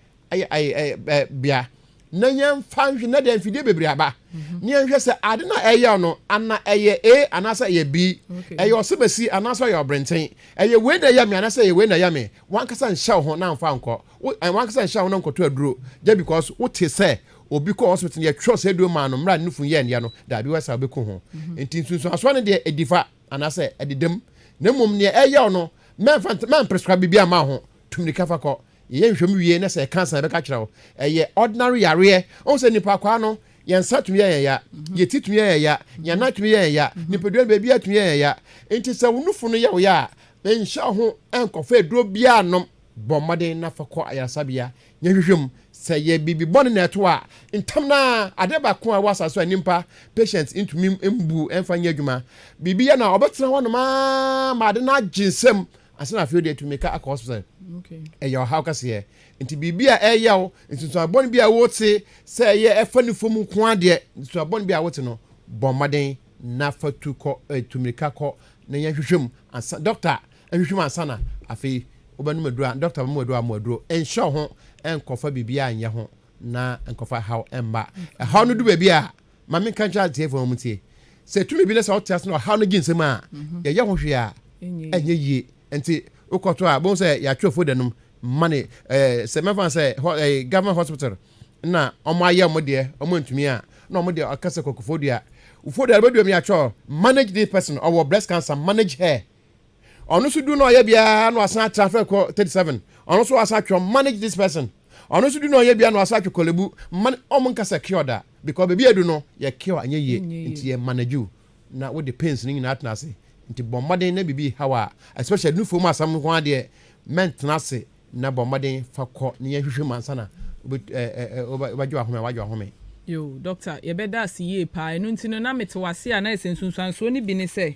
bea na yɛmfa nhwɛ na deɛ mfidie bebree aba mhm. ne yɛnhwɛ sɛ ade no a ɛyɛ no ana ɛyɛ a anaasɛ ɛyɛ bi ɛyɛ ɔsebɛsi anaasɛ ɔyɛ ɔbrɛnten ɛyɛ wei na ɛyɛ me anaasɛ ɛyɛ wei na ɛyɛ me wankasa nhyɛ wo ho na mfa nkɔ wankasa nhyɛ wo ho na nkɔto aduro just because wote sɛ obi kɔ hospital no yɛtwerɛ sɛ aduro maa no mmerɛ a ne nufunu yɛɛ nea no daabi wɔ saa wobɛku ho mhm. nti nsunsuansoɔ no deɛ ɛdifa anaasɛ ɛdedam na mmom neɛ ɛyɛw no mɛmprescribe biribi ama ho tumirika fa kɔ yɛyɛ nhwɛmu wie na sɛ ɛka san bɛka kyerɛ wo ɛyɛ ordinary yareɛ ɔhu sɛ nnipa kwaa no yɛn nsa tumi yɛ yɛn ya mhm. yɛn ti tumi yɛ yɛn ya mhm. yɛn nan tumi yɛ yɛn ya nipadua no baabi atumi yɛ yɛn ya nti sɛ wo nufunu yɛ wo ya a nhyɛ ho nkɔfa aduro biara nom Bɔ mmɔden na fa kɔ ayaresabea nya nhwehwɛmu. Sɛ ɛyɛ biribi bɔne na ɛto a, ntɛm no ara, ade baako a ɛwɔ asase so a nnipa, patients, ntumi mbu mfa nyɛ adwuma. Biribi yɛ no a, wɔbɛtena hɔnom ara ma ade no agye nsam ansa na afei de wɔatu mmirika akɔ hospital. Ɛyɛ ɔhaw kɛseɛ. Enti biribi a ɛreyɛ wo, nsunsuan bɔne bi a wote, sɛ ɛyɛ ɛfa ne fam nko ara deɛ, nsunsuan bɔne bi a wote no, bɔ mmɔden na fa tu kɔ, tu mmirika kɔ na nya nhwehwɛmu ansa, dɔkta, Hwehwɛ mu ansa na afei wobɛnom aduro a dɔkta bɛma wo aduro a mo aduro. Nhyɛ wo ho nkɔfa biribiara nyɛ ho na nkɔfa haw mma. Ɛhaw no du baabi a, ma menka nkyerɛ atiefoɔ wɔn ntie. Sɛ ɛtumi bi na sɛ wote ase na ɔhaw no gye nsam a, mhm. yɛyɛ ho hwee a, ɛnyɛ yie. Nti wokɔto a, bohu sɛ yɛatwerɛ foda nom ma ne eh, sɛ mɛfa sɛ eh, government hospital na wɔn ayɛ wɔn deɛ wɔn ntumi a na wɔn deɛ ɔka sɛ kɔkɔfo dua wofo dua bɛdua mu yɛatwerɛ manage this person ɔwɔ breast cancer manage her ɔno nso du na ɔyɛ biara na wasan atra fɛ kɔ thirty seven ɔno nso wasan atwɛ manage this person ɔno nso du na ɔyɛ biara na wasan atwɛ kɔlebu man ɔmo nkasa cure da because beebi edu no yɛ cure anyɛ yie nti yɛ manage you na wode pains no nyinaa tena ase nti bɔ mmɔden na biribi haw a especially nufuo mu asɛm nko adeɛ mɛntena ase na bɔ mmɔden fa kɔ ne yɛn hwehwɛ mu ansa na wobɛgye wahome a wagye wahome. Yo, doctor, yɛbɛda ase yie paa. Ɛno nti no, na mete wase a na ɛsɛ nsunsuansoɔ no bi ne sɛ.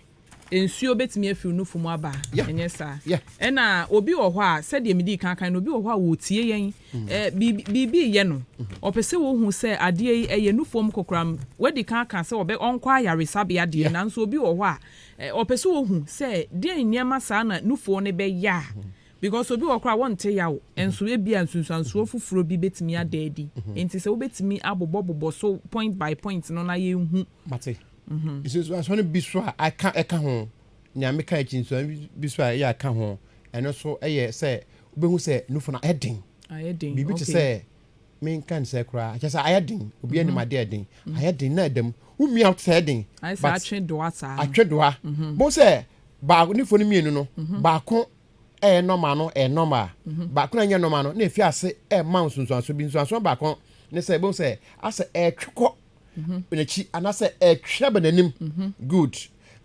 Nsuo bɛtumi afiri wo nufu mu aba, ɛnyɛ saa? Ɛna obi wɔ hɔ a, sɛdeɛ medii kan kan no, obi wɔ hɔ a ɔretie yɛn, biribi reyɛ no, ɔpɛ sɛ ɔhu sɛ adeɛ yi ɛyɛ nufoɔ mu kokoram. Wadi kan aka sɛ ɔbɛ, ɔnkɔ ayaresabea deɛ, nanso obi wɔ hɔ a, ɔpɛ sɛ ɔhu sɛ deɛn nneɛma saa na nufoɔ no bɛyɛ a, because obi wɔ hɔ koraa a wɔnte yaw, nso ebia nsunsuansoɔ foforɔ bi bɛtumi ada adi. Enti sɛ wobɛtumi abobɔbobɔ so point by point no na yɛnhu. Nsunsuansoɔ no bi so a aka ɛka ho, nea meka akyi nsuan bi so a ɛyɛ aka ho, ɛno nso yɛ sɛ wobɛhu sɛ nufu no ayɛ den. Ayɛ den, Biribi te sɛ menka ne sɛ koraa kyɛ sɛ ayɛ den, obi anim adeɛ ayɛ den, ayɛ den na ɛdam. Womia wote sɛ ayɛ den. Ayɛ sɛ atwe doa saa. Atwe doa. Bohu sɛ baako nufu no mmienu no, baako ɛyɛ normal no ɛyɛ normal, baako na ɛnyɛ normal no na efi ase ɛma nsunsuansoɔ bi. Nsunsuansoɔ baako ne sɛ bohu sɛ asɛ ɛretwe kɔ mhm. n'akyi anaasɛ ɛtwerɛ bɛ n'anim mhm. good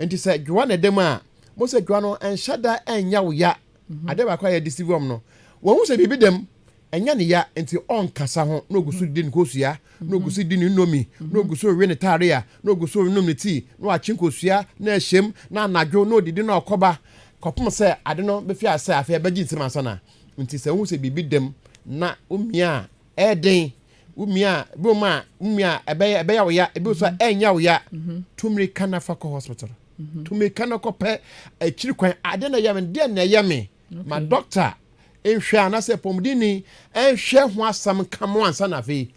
nti sɛ dwoa na ɛdam a mo sɛ dwoa no ɛnhyɛ da ɛnyɛ wo ya mhm. adeɛ baako a yɛde si wɔm no wɔn ho sɛ biribi dam ɛnyɛ ne ya nti ɔnkasa ho na ogu so di ne kosua na ogu so di ne nnomi na ogu so we ne taare a na ogu so nom ne tii na wakye nkosua na ahyɛm na anadwo na odidi na ɔkɔba kɔpem sɛ ade no bɛfi asɛ afei ɛbɛgye nsɛm ansa na nti sɛ wohu sɛ biribi dam na omia a ɛyɛ den wo mia a ebi wɔ mu a wo mia a ɛbɛyɛ ɛbɛyɛ wo ya ebi wɔ so a mm-hmm. ɛnyɛ wo ya mm-hmm. tumiri ka na fa kɔ hospital mm-hmm. tumiri ka na kɔ pɛ akyiri kwan adeɛ na ɛyɛ me deɛ na ɛyɛ me ma doctor nhwɛ anasɛ pɔmudini nhwɛ ho asɛm ka mo ansa na afei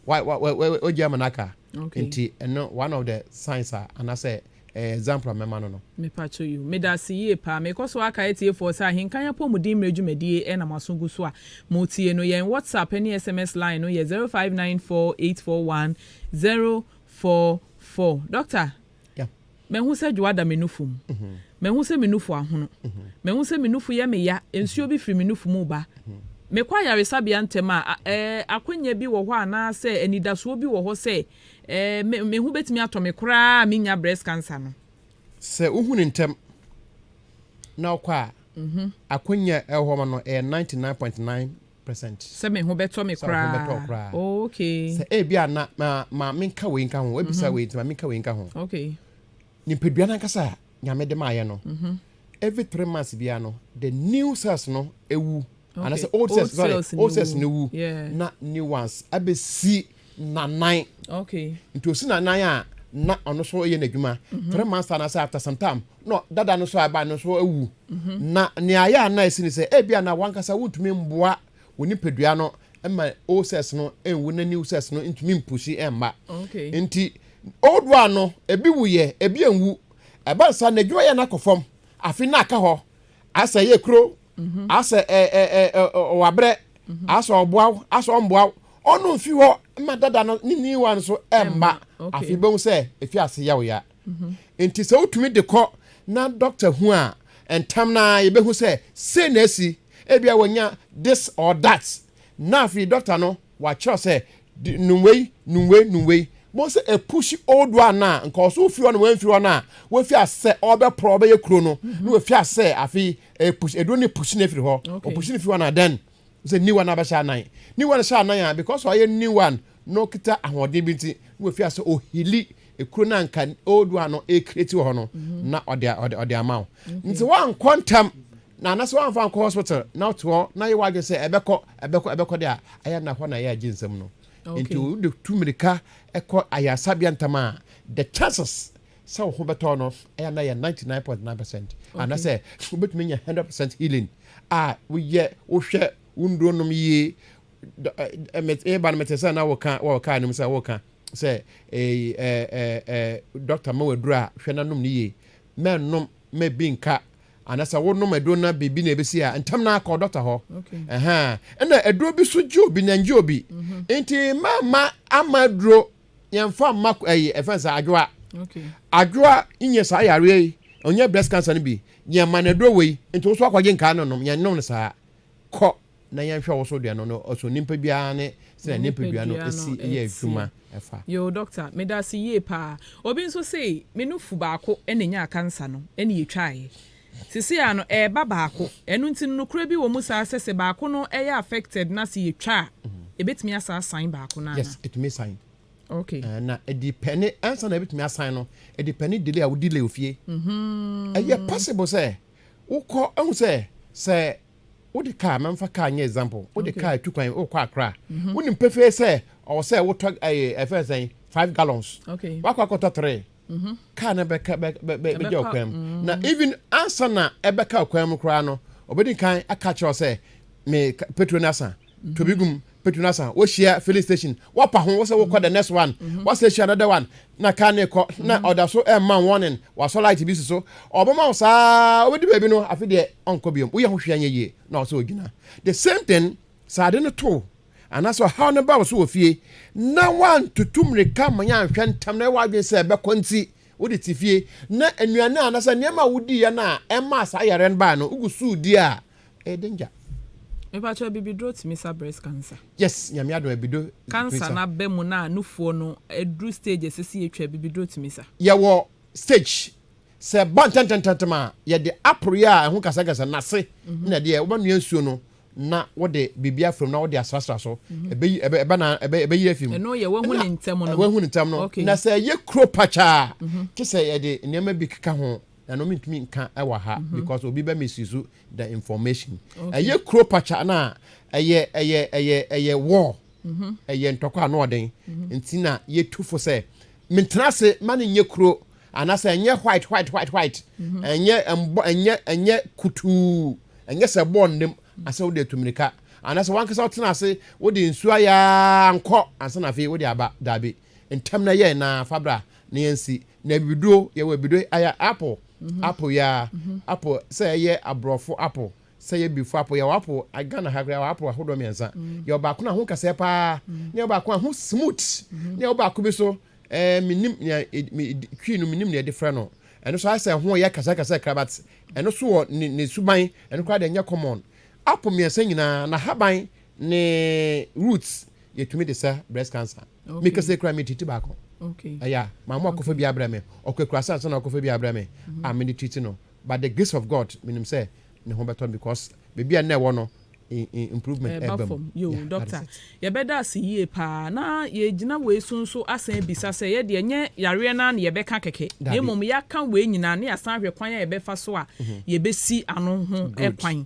wa wa wa wa wagya ama n'aka nti ɛno one of the signs a anasɛ eh, example a mɛma no no. Mepacho you. Medase yie paa. Mekɔ so akae atiefoɔ sɛ Ahenkan Apɔmuden Mmerɛ dwumadie na mo aso gu so a mo tie no. Yɛn WhatsApp ne SMS line no yɛ zero five nine four eight four one zero four four. Doctor, Yeah. mahu sɛ dwoa da me nufu mu. Mahu sɛ me nufu ahono. Mahu sɛ me nufu yɛ me ya. Nsuo bi firi me nufu mu ba. Mekɔ ayaresabea ntɛm a, a ɛɛ, akwanya bi wɔ hɔ anaasɛ anidasoɔ bi wɔ hɔ sɛ Ɛɛ, me, me ho betumi atɔ me koraa a minnya breast cancer no. Sɛ wohu no ntɛm na wokɔ a, mm-hmm. akwannya a ɛwɔ hɔ ma no ɛyɛ 99.9 percent. Sɛ me ho bɛtɔ me koraa. Sɛ me ho bɛtɔ koraa. Oh, okay. Sɛ ebi a na ma ma menka wei nka ho, ebisa mm-hmm. wei nti ma menka wei nka ho. Okay. Nipadua nankasa a nyame de maayɛ no. Mm-hmm. Every three months biara no, the new cells no ewu. anasɛ old cells sorry old cells ne wu na new ones abɛsi nanan nti osi nanan a na ɔno so yɛ n'adwuma mhm. three months time anasɛ after some time na dada no so aba no so awu mhm. na nea ayɛ a na ɛsi ne sɛ ebi a na wankasa wontumi mboa wɔ nipadua no ma old cells no nwu na new cells no ntumi mpusi mma nti old one no ebi wu yɛ ebi nwu ɛba nsa n'adwuma yɛ n'akɔ fam afi na aka hɔ asɛ ɛyɛ kuro mhm. asɛ ɔwabrɛ mhm. asɛ ɔboa wo asɛ ɔmboa wo ɔno mfi hɔ ma dada no ne new one so ɛmma afei bɛhu sɛ ɛfi ase yɛ wo ya mhm. nti sɛ wotumi de kɔ na dɔkta hu a ntam no a yɛbɛhu sɛ sei na asi ebia wɔnya this or that na afei dɔkta no wakyerɛ sɛ De num wei, num wei, num wei. Mo sɛ ɛpushi old one a nka ɔso ofi hɔ na wɔamfiri hɔ no a wafi asɛ ɔbɛporɔ ɔbɛyɛ kuro no mhm. na wafi asɛ afei ɛpushi ɛduro ne pushi no afiri hɔ ɔpushi no fi hɔ na then sɛ new one abɛhyɛ anan new one hyɛ anan a because ɔyɛ new one na ɔkita ahoɔden bi nti na wafi asɛ ɔhili ekuro no anka old one no ɛkreti wɔ hɔ no mhm. na ɔde ɔde ɔde ama wo nti wankɔ ntam na anasɛ woamfa ankɔ hospital na wote hɔ na yɛ w'adwene sɛ ɛbɛkɔ ɛbɛkɔ ɛbɛkɔ de a ɛyɛ na hɔ na ɛyɛ agye nsɛm no nti wode tu mmirika kɔ ayaresabea ntam a the chances sɛ wo ho bɛtɔ no ɛyɛ na yɛ 99.9 percent anasɛ wobɛtumi anya 100 percent healing a woyɛ wohwɛ wo nnuro nom yie ɛba no mete sɛ na woka wɔ kaa no mu sɛ woka sɛ dɔkta ma waduru a hwɛ no nom no yie mɛnom mɛbi nka anasa wonom aduro na biribi na ebesi a ntɛm na akɔ dɔkta hɔ ɛna aduro bi so gye obi na ngye obi mhm. nti mama ama aduro yɛnfa mma ɛyi ɛfɛn sɛ adwoa adwoa nyɛ saa yareɛ yi ɔnyɛ breast cancer no bi yɛn ma na aduro wɔ yi nti woso akɔgye nkaa no nom yɛn nom no saa kɔ na yɛnhwɛ wo so deɛ no no so nipa biara ne sɛ nipadua no si yɛ adwuma ɛfa. Yoo doctor medase yie paa obi nso sei me nufu baako na enyaa cancer no na yetwaaɛ sesei a no ɛɛba baako ɛno nti no nokorɛ bi wɔmu saa sɛ sɛ baako no ɛyɛ affected na sɛ yetwa a ebetumi asa asan baako no anaa. Yes etumi san. Okay. Uh, na ɛdi pɛ ne ansa na ebetumi asan no ɛdi pɛ ne delay a wodi lay ofie. Mm -hmm. Ɛyɛ possible sɛ wokɔ ɛho sɛ sɛ wode car ma mfa car nyɛ example wode okay. car tu kwan wokɔ akra mm -hmm. wonim pefee sɛ ɔwɔ sɛ wotɔ ɛfɛn sɛn five gallons okay. wakɔ akɔtɔ three mm -hmm. car no bɛka bɛgya ɔkwan mu mm -hmm. na even ansa na ɛbɛka ɔkwan mu koraa no ɔbɛdi kan aka kyerɛ sɛ me petrol no asa mm -hmm. tobi gum Petu na san wɔhyia filling station wɔpa ho wɔsɛ wɔkɔ the next one mm-hmm. wɔsɛ hyia another one na kaa ne kɔ na mm-hmm. ɔda so ɛma eh, warning wɔasɔ light bi si so ɔbɛma wo saa wobɛdi baabi no afe deɛ ɔnkɔ biom woyɛ ho hwea nyɛ yie na ɔsɛ ɔgyina the same thing saa ade no too anaasɛ ɔhaw no ba wo so wɔ fie na woantoto mmirika ma yɛanhwɛ ntam na ɛwɔ adwene sɛ ɛbɛkɔ nti wode te fie na nnuane a anasɛ nneɛma a wodiiɛ no a ɛmaa saa yareɛ no baa no wogu suu di a Ɛyɛ danger. Mepakyɛ abibiduro tumi sa breast cancer. Yes nyame adom abido tumi sa. Cancer no aba mu na nufoɔ no aduru stage a ɛsɛ sɛ yɛtwa abibiduro tumi sa. Yɛwɔ stage sɛ ɛba ntɛntɛntɛntɛm a yɛde aporeɛ a ɛho kasakasa nase mhm. na ɛdeɛ wobɛnoa nsuo no na wode biribi afam na wode asrasra so mhm. ɛbɛyi ɛbɛ na ɛbɛyi afi mu ɛno yɛ wahu ne ntɛm no wahu ne ntɛm no na sɛ ɛyɛ kuro pakyaa mhm. te sɛ yɛde nneɛma bi keka ho na no mentumi nka ɛwɔ ha mhm. because obi bɛ misuse the information ɛyɛ kuro pakya no a ɛyɛ ɛyɛ ɛyɛ ɛyɛ war mhm. ɛyɛ ntɔkwa ano ɔden mhm. nti na yɛtu fo sɛ mentena ase ma no nyɛ kuro anaasɛ ɛnyɛ white white white white ɛnyɛ ɛmbɔ ɛnyɛ ɛnyɛ kutuu ɛnyɛ sɛ bɔɔ nnam asɛ wode atu mmirika anaasɛ wankasa wotena ase wode nsuo ayɛ nkɔ ansa na afei wode aba daabi ntɛm na yɛn na fabra na yɛnsi Na abibiduro, yɛwɔ abibiduro ayɛ apple, apple yɛ a, apple sɛ ɛyɛ aborɔfo apple, sɛ ɛyɛ abibifo apple. Yɛwɔ apple, a- Ghana ha koraa yɛwɔ apple ahodoɔ mmiɛnsa. Yɛwɔ baako no a ho kasɛɛ paa, na yɛwɔ baako a ho smooth, na yɛwɔ baako bi so, eh, menim nea ed- me- ed- twi no menim nea yɛde frɛ no. Ɛno so ayɛ sɛ ɛho yɛ kasɛɛkasɛɛ koraa but ɛno so wɔ ne ne suban, ɛno koraa deɛ ɛnyɛ common. Apple mmiɛnsa nyinaa, n'ahaban ne roots yɛtumi de sa breast cancer me kɛsɛ kura me titi baako ɛyɛ maa mo akɔfa bi abrɛ me ɔkɔ akura sa nsa na ɔkɔfa bi abrɛ me mhm. a me de titi no by the grace of God menim sɛ ne ho bɛtɔ because baabi a nnɛ ɛwɔ no improvement ɛba mu yo doctor yɛbɛda ase yie paa na yɛgyina wei so nso asan abisa sɛ yɛ deɛ nyɛ yareɛ no na yɛbɛka kɛkɛ na mmom yɛaka wei nyinaa ne yɛasan ahwɛ kwan a yɛbɛfa so a mhm. yɛbɛsi ano ho kwan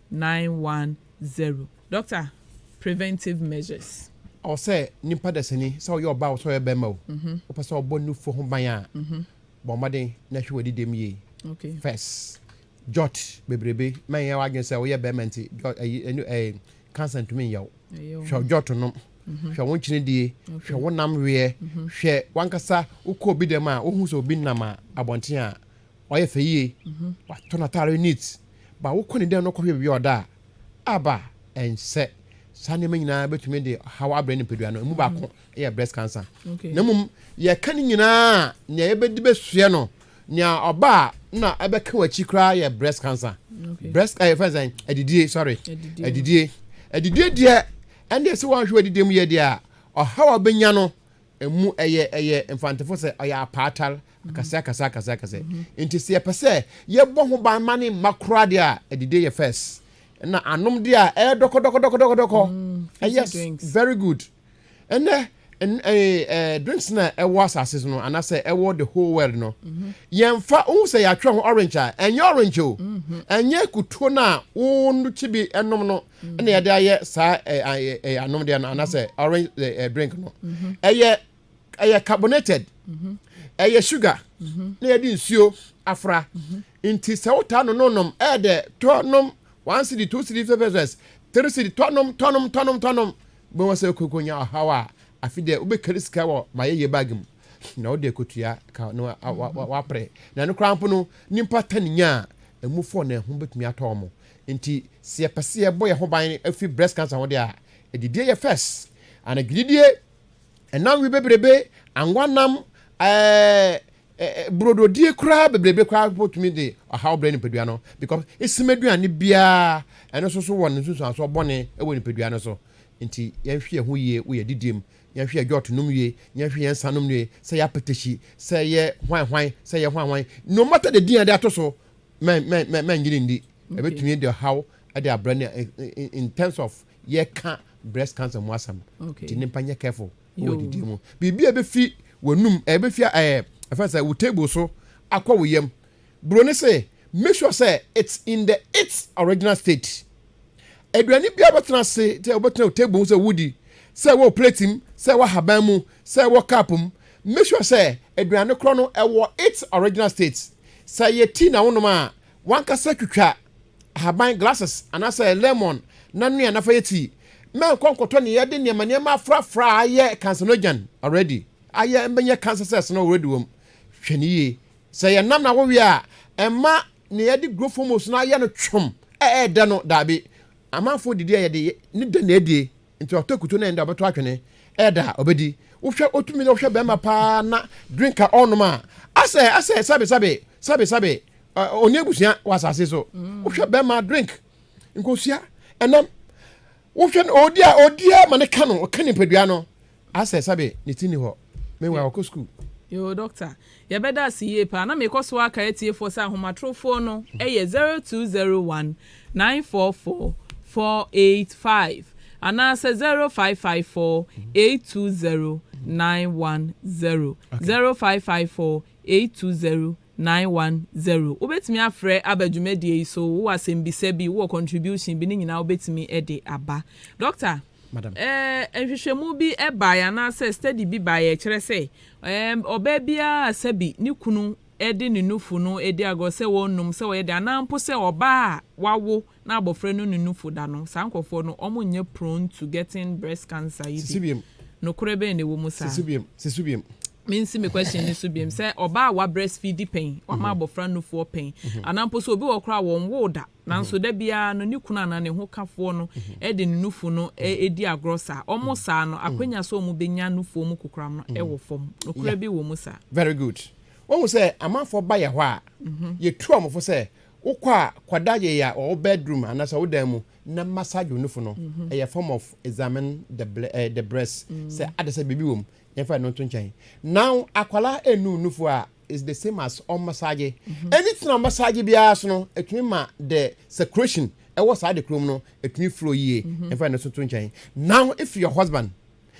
Nine one zero Dɔkta preventive measures. Ɔwɔ sɛ nipa dasani, sɛ ɔyɛ ɔbaa o, sɛ ɔyɛ bɛɛma o, wopɛ sɛ ɔbɔ nufoɔ ho ban a, bɔ mmɔden na hwɛ w'adi dɛm yie first. Jot bebrebe, ma nyɛ w'adwene sɛ woyɛ bɛɛma nti jot ɛyi ɛnu ɛɛ cancer ntumi nyɛ wo. Hwɛ jot nom, hwɛ wo nkyene die, hwɛ wo nam weɛ, hwɛ w'ankasa wokɔ obi dɛm a wohu sɛ obi nam a abɔnten a Wayɛ fɛ yie, watɔ n'ataare neat, but wokɔ ne dan no kɔhwɛ baabi a ɔda a, aba! Ɛnsɛ. Saa nneɛma nyinaa bɛtumi de ɔhaw abrɛ nipadua no. Ɛmu baako yɛ breast cancer. Na mmom, yɛka ne nyinaa a, nea yɛbɛdi bɛsoɛ no, nea ɔba a na ɛbɛka w'akyi koraa yɛ breast cancer. Breast ɛyɛ eh, fɛn sɛn? Adidie, sorry. Adidie. Adidie deɛ, ɛnna ɛsɛ wɔahwɛ w'adidie mu yɛ deɛ a, ɔhaw a ɔbɛnya no, ɛmu ɛyɛ ɛyɛ mfantefo sɛ ɔyɛ apaatar akɛse akɛse akɛse akɛse nti sɛ yɛpɛ sɛ yɛbɔ ho ban ma ne mma koraa deɛ a adidie yɛ first na anom deɛ a ɛyɛ dɔkɔdɔkɔdɔkɔdɔkɔ ɛyɛ very good ɛnɛ drinks na ɛwɔ asase so no anaasɛ ɛwɔ the whole world no mhm. yɛmfa wohu sɛ yɛatwerɛ ho orange a ɛnyɛ orange o mhm. ɛnyɛ kutuo no a wo no kyi bi nom no ɛna yɛde ayɛ saa ɛyɛ anom deɛ no anasɛ orange ɛɛ drink no ɛyɛ ɛyɛ carbonated ɛyɛ sugar na yɛde nsuo afra nti sɛ wotaa no nonom ɛyɛ dɛ tɔ nom one city two city five pesos three city tɔ nom tɔ nom tɔ nom tɔ nom bɛn wɔ sɛ koko nya ɔhaw a afi deɛ wobɛkari sika wɔ ma yɛyɛ bag mu na wode akotua ka no wapere na ɛno koraa mpo no nipa tani nya a ɛmu fɔ na ɛho bɛtumi atɔ ɔmo Nti sɛ yɛpɛ sɛ yɛbɔ yɛn ho ban fi breast cancer ho de a, adidie yɛ first. And agididie, ɛnam wi bebrebe, angwa nam, ɛɛ, burododie koraa bebrebe koraa bɛtumi de ɔhaw brɛ nipadua no because esim aduane biara ɛno nso so wɔ ne nsunsuansoɔ bɔne wɔ nipadua no so nti yɛnhwɛ yɛn ho yie wɔ yɛn didie mu yɛnhwɛ yɛn dwɔɔto nom yie yɛnhwɛ yɛn nsa nom yie sɛ yɛ apetahyi sɛ yɛ hwan hwan sɛ yɛ hwan hwan no matter the din a de ato so mɛnnyere nni ɛbɛtumi de haw de abrɛ ne in terms of yɛka breast cancer mu asɛm nti nipa nyɛ careful wɔ didi mu biribi a ɛbɛfi w'anum ɛbɛfi ɛɛ ɛfɛn sɛ wo table so akɔ wo yam buro ne se make sure sɛ it's in the its original state. aduane biara bɛtena ase sɛ wobɛtena wo table sɛ wodi sɛ wɔ plate mu sɛ wɔ ahaban mu sɛ wɔ cup mu make sure sɛ aduane korɔ no ɛwɔ its original state sɛ yɛ tea na wonom a wankasa twitwa ahaban glasses anaasɛ lemon na noa nafa yɛ tea mɛnkɔ nkɔtɔ ne yɛde nneɛma nneɛma afrafra a ayɛ carcinogen already ayɛ mbɛnyɛ cancer cells no already wɔm hwɛ ne yie sɛ yɛ nam na wowie a ɛma nea yɛde growth hormones no ayɛ no twom a ɛyɛ dɛ no daabi amanfoɔ didi a yɛde ne dɛ na ɛdie nti ɔtɔ akutu na ɛnda ɔbɛtɔ atwene ɛyɛ da a ɔbɛdi wohwɛ ɔtumi na wohwɛ bɛrima paa na drink a ɔnom a asɛ asɛ sabe sabe sabe sabe ɔne abusua wɔ asase so mm. wohwɛ bɛrima drink nkosua ɛnam wohwɛ no ɔdi a ɔdi a ma ne ka no ɔka nipadua no asɛ sɛbe ne ti ni hɔ mewa ɔkɔ sukuu. Yoo Doctor, yɛbɛda ase yie paa. Na mekɔ so ara kae atiefoɔ sɛ ahomatorofoɔ no yɛ zero two zero one nine four four four eight five anaasɛ zero five five four eight two zero nine one zero zero five five four eight two zero Nine one zero, Wobɛtumi afrɛ aba dwumadie yi so, wowɔ asɛmbisa bi, wowɔ contribution bi, ne nyinaa wobɛtumi de aba. Doctor, Madam. eh, nhwehwɛmu bi baeɛ anaasɛ study bi baeɛ ɛkyerɛ sɛ eh, ɔbaa biara a sɛbi ne kunu de ne nufu no di agorɔ sɛ wɔnum, sɛ wɔyɛ dɛn, anaa mpo sɛ ɔbaa a wawo na abɔfra no ne nufo da no, saa nkurɔfoɔ no, wɔn nnyɛ prone to getting breast cancer yi bi. Nokorɛ bɛn na ɛwɔ mu saa? Me nsi me question no so biom, sɛ ɔbaa a wa breast feedi pɛn, wama abɔfra nufoɔ pɛn, anaa mpo sɛ obi wɔ hɔ koraa a wɔnwoo da, nanso da biara no ne kunu anaa ne ho kafoɔ no de ne nufo no di agorɔ saa, wɔn saa no, akwanya sɛ wɔn bɛnya nufoɔ mu kokoram no wɔ fam. Nokorɛ bi wɔ mu saa? Very good. Wahu sɛ amanfoɔ ba yɛ hɔ a, yɛtu wɔn fo sɛ Wokɔ a, kɔda yea wɔ wo bedroom anaasɛ wo dan mu na massage wo nufu no. Ɛyɛ form of examine the ble eh, the breast sɛ ada sɛ biribi wɔ mu. Yɛmfa ɛno nto nkyɛn. Now akwadaa ɛnnu wo nufu a is the same as ɔmmassage. Anything a ɔmmassage biara so no ɛtumi ma the circulation ɛwɔ saa adekoro mu no ɛtumi flow yie. Yɛmfa ɛno nso nto nkyɛn. Now if your husband,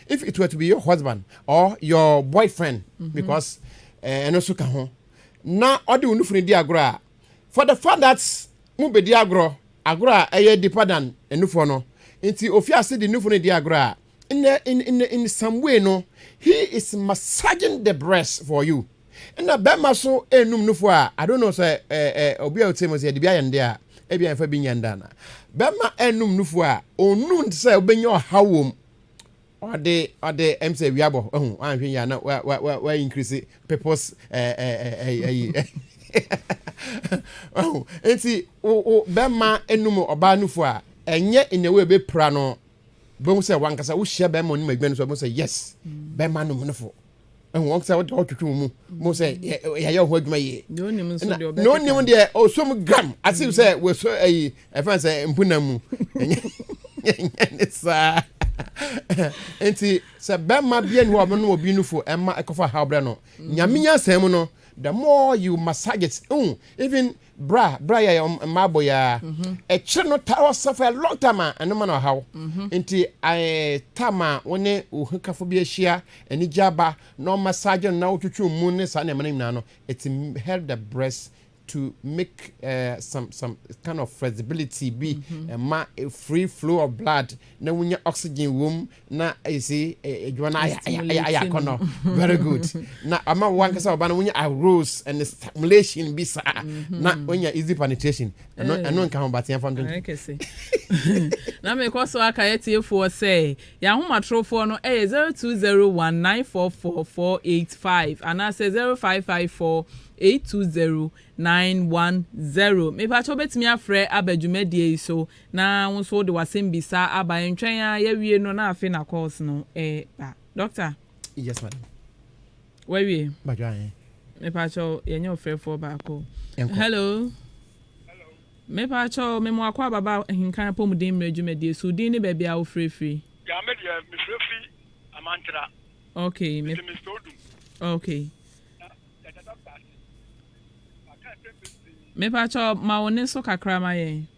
if it were to be your husband or your boyfriend because eh, ɛno nso ka ho. na ɔde wo nufunu di agorɔ a, for the fact that mo bedi agorɔ, agorɔ a ɛyɛ deeper than nufoɔ no, nti ofi ase de nufunu di agorɔ a, in a, in, in, in some way no, he is massaging the breast for you. Ɛna bɛrima so enum nufoɔ a, I don't know sɛ ɛ, ɛ, obi a ɔte mu sɛ yɛde bi ayɛ ne deɛ a, ebi a yɛfa bi nyɛ ne dɛ ana. Bɛrima enum nufoɔ a, ɔnum te sɛ wobɛnya ɔhaw wɔ mu. Ɔde ɔde ɛm sɛ wia bɔ ɛho anhwɛ yia na wa wa wa wa increase people's ɛɛ ɛɛ ɛyi ɛyi ɛho nti wo wo bɛma enum ɔbaa nufu a ɛnyɛ in a way bɛ pira no bɛhu sɛ wankasa wohyia bɛma onum adwuma no so bɛhu sɛ yes bɛma num nufo ɛhu wɔn sɛ ɔtwitwi wɔn mu mo sɛ yɛayɛ ɔho adwuma yie na onim deɛ ɔsom gram ase sɛ wɔsɔ ayi ɛfɛn sɛ mpuna mu ɛnyɛ ne saa nti sɛ bɛrima bia ni hɔ a ɔbɛno obi no fo ɛma ɛkɔfa ha ɔbrɛ no nyame nyansa mu no the more you massage it even Bra, bra yɛ yɛn mmaabɔ yi ara. Akyire no, taa wɔ sɛ for a long time a, ɛno ma no ɔhaw. Nti I time a wo ne wo hokafo bi ahyia, anigye aba, na ɔmassage no na wotwitwi wo mu ne saa nneɛma no nyinaa no, it help the breast to make some some kind of flexibility bi, ɛma free flow of blood na wonya oxygen wɔ mu na ɛsi adwuma no ayɛ ayɛ akɔnɔ very good na ama wo ankasa ɔba no wonya arose and stimulation bi saa mhm. na wonya easy penetration ɛno eh. ɛno nka ho bateɛ fa ntonto na mekɔ so aka yɛtiefoɔ sɛ yɛahomatorofoɔ no ɛyɛ 0201944485 anaasɛ 0554 820910 mepakyɛ wobɛtumi afrɛ aba dwumadie yi so Na wo nso wode w'asɛmbisa aba, ɛntwɛn ara yɛawie no na afei na calls no ba. Doctor. Yes madam. Wawie? Badwo ahe. Mepaakyɛw, yɛnyɛ ɔfrɛfoɔ baako. Hello. Hello. Mepaakyɛw, memo akɔ ababa ahinkan apɔmuden mmerɛ dwumadie so, din ne baabi a wofirefiri. Ya me deɛ, mefirefiri Amantra. Okay. Me, Mr. Odum. Okay. Na yɛda dɔkta ase. Maka nsɛm bebree. Mepaakyɛw, ma wo ne so kakra ma yɛn.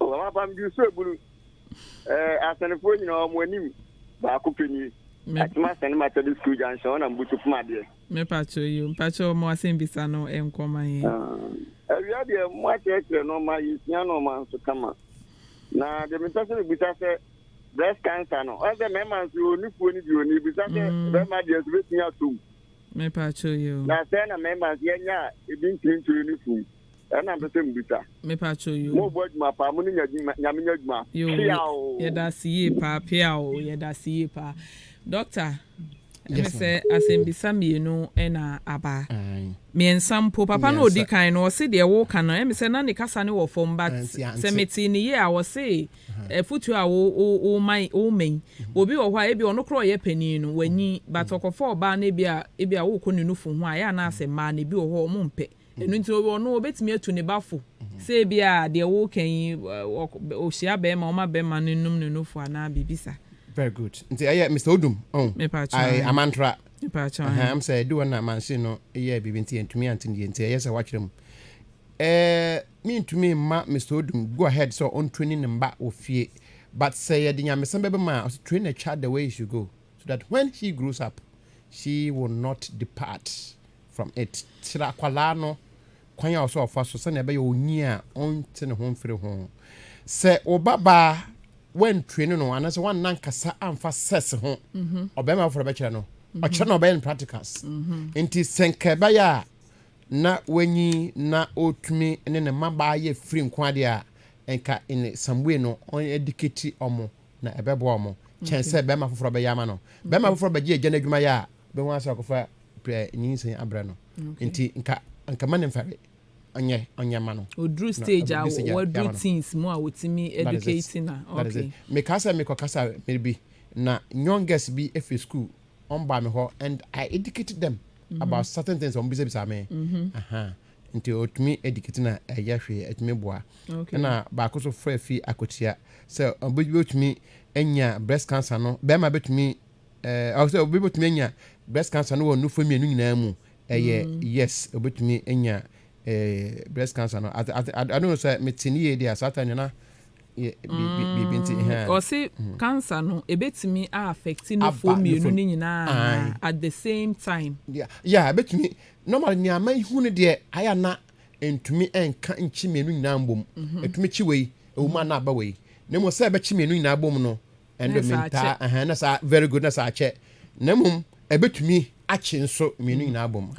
Wɔn apam di so ebunu. Ɛɛ asɛnfoɔ nyinaa wɔn anim baako pɛ nie. Atuma sɛne matɛde school junction ɔna mbutu poma deɛ. Me patrɔ yo mpatrɔ mo asɛm bisa no nkɔ ma yɛn. Ah, awia deɛ mo akyerɛkyerɛ no ma yɛsua no ma nso kama. Na deɛ mepɛ sɛ mebisa sɛ breast cancer no ɔn sɛ mɛma nso yɛ onifuo no deɛ ɔni bisa sɛ mm. bɛma deɛ nso bɛtumi atom. Me patrɔ yo. Na sɛ na mɛma nso yɛnya a ebi ntumi nto yɛ no fum. Ɛna mpɛ sɛ mbisa. Mepakyɛw yoo. Mo bɔ adwuma paa mo ne nya adwuma nyame nya adwuma peaw. Yɛdase yie paa peaw yɛdase yie paa doctor ɛne sɛ asɛmbisa mmienu ɛna aba mmiɛnsa mpo papa no odi kan no ɔse deɛ wo ka no ɛmi sɛ na ne kasa ne wɔ fam but sɛ mete ne yie a ɔse ɛfutuo a wo wo wo man wo man obi wɔ hɔ a ebi ɔno korɔ ɔyɛ panin no wanyi but ɔkɔfa ɔbaa no ebi a ebi a wokɔ ne nufu ho a yɛ anaasɛ mmaa no ebi wɔ hɔ ɔmo mpɛ Ɛno nti, ɔno ɔbɛtumi atu ne ba fo sɛ ebia deɛ woreka yi, ɔhyia barima, ɔma barima no nom ne nofo anaa biribi saa. Very good. Nti ɛyɛ Mister Odum, oh, I, Amantra. Ɛhɛn, am sɛ ɛdi hɔ na machine no yɛɛ biribi nti yɛntumi ante ne yie nti ɛyɛ sɛ wɔatwerɛ mu. Ɛɛ, mentumi mma Mister Odum go ahead sɛ ɔntrani ne mma wɔ fie, but sɛ yɛde nyamesɛm bɛba mu a, ɔsɛ train a child the way he should go so that when he grows up, she will not depart. from it. Kyerɛ akwadaa no kwan a ɔsɛ ɔfa so sɛnea ɛbɛyɛ onyin a ɔnte ne ho mfiri ho. Sɛ wo babaa wantuane no anaasɛ wanna nkasa amfa sex ho mhm. ɔbɛrima foforɔ bɛkyerɛ no mhm. ɔkyerɛ no ɔbɛyɛ no practicals mhm. nti sɛ nka ɛbɛyɛ a na wanyi na ɔtumi ne ne mmabaa yɛ firi nko adeɛ a nka in some way no ɔn adikati ɔmo na ɛbɛboa wɔn kyɛn sɛ bɛrima foforɔ bɛyɛ ama no bɛrima foforɔ bɛgye agya no adwuma yɛ a bɛhu asɛ ɔkɔfa nyinsɛn abrɛ no nti nka nka ma ne mfare ɔnyɛ ɔnyɛ ma no ɔduru stage a wɔduru teens mu a wɔtumi educate na okay mekaa sɛ mekɔkasa mmere bi na youngest bi ɛfiri school ɔmbaa me hɔ and I educated them mm -hmm. about certain things ɔmbisabisa me mm -hmm. uh -huh. Nti otumi di kitchen a ɛyɛ hwee ɛtumi boa. Ɛna baako so frɛ fi akwatia sɛ obi bɛtumi anya breast cancer no bɛrima bɛtumi ɛɛ sɛ obi bɛtumi anya breast cancer no wɔ nufo mmienu nyinaa mu ɛyɛ mm. yes obɛtumi anya ɛɛ breast cancer no ate ate ano no sɛ mete ne yie deɛ saa ta nyina biribi nti mm. hɛn ɔse mm. cancer no ebɛtumi a affect nufo mmienu no nyinaa at the same time yeah yeah ebɛtumi Normally nea mahu no deɛ ayɛ a na ɛntumi nka nkyi mmienu nyinaa mbom. Ɛtumi kyi wei, ɛwɔ mu a na aba wei. Na mmom sɛ ɛbɛkye mmienu nyinaa bom no, ɛno deɛ mentaa, ɛhɛn, na saa very good na saa akyɛ. Na mmom ɛbɛtumi akye nso mmienu nyinaa bom.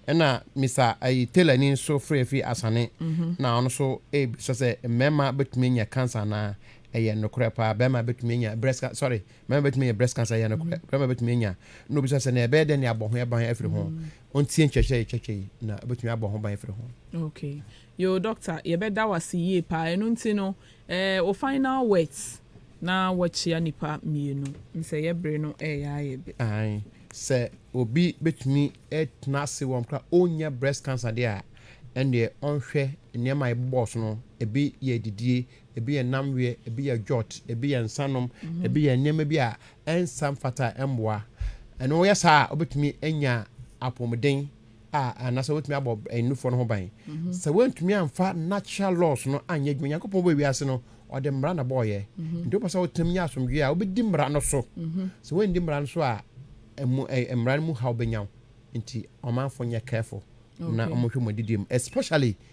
Ɛna Mister ayi Taylor ni nso frɛ firi Asane na ɔno nso rebisa sɛ mmarima bɛtumi anya cancer anaa? Ɛyɛ nokorɛ paa, barima bɛtumi anya breast cancer, sorry, Mmarima betumi anya breast cancer, ɛyɛ nokorɛ. Ɔbarima betumi anya, na obisa sɛ, na ɛbɛyɛ dɛn de abɔ ho ban afiri ho? Ɔntie nkyerɛkyerɛ a yɛkyerɛkyerɛ yi, na obetumi abɔ ho ban afiri ho. Okay. Yoo, Doctor, yɛbɛda wo ase yie paa. Ɛno nti no, eh, wo final words na woakyia nnipa mmienu. Sɛ yɛ bere no reyɛ ayɛ be. Ae. Sɛ obi betumi atena ase wɔ mmerɛ a ɔnnya breast cancer deɛ a, ɛnneɛ ɔnhwɛ nneɛma a yɛbobɔɔ so no, ebi yɛ adidie, Ebi yɛ nnamweɛ, ebi yɛ dwot, ebi yɛ nsanom, ebi yɛ nneɛma bi a ɛnsa mfata a ɛmmoa. Ɛno woyɛ saa a, wobɛtumi anya apɔmuden a anaasɛ wobɛtumi abɔ nufoɔ no ho ban. Sɛ woantumi amfa natural laws no anyɛ adwuma, Nyankopɔn bɔɔ wiase no, ɔde mmara na bɔɔyɛ. Nti wopɛ sɛ wotenam nya asomdwoeɛ a, wobɛdi mmara no so. Sɛ woanndi mmara no so a, ɛmu ɛ mmara no mu haw bɛnya wo. Nti ɔmanfo nyɛ careful na wɔnhwɛ wɔn adidie mu especially.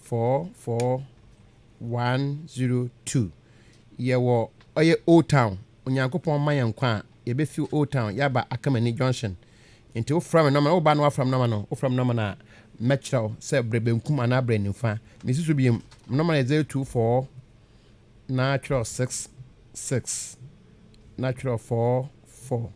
four four one zero two yɛwɔ ɔyɛ old town onyankopɔn ma yɛn nkwa a yɛbɛfi old town yɛaba akamani junction nti wofra me nɔma woba no wafra me nɔma no wofra me nɔma no a mɛkyerɛ wo sɛ berɛ benkum anaa berɛ nifa mesi so biem nɔma no yɛ zero two four na kyerɛw six six na kyerɛw four four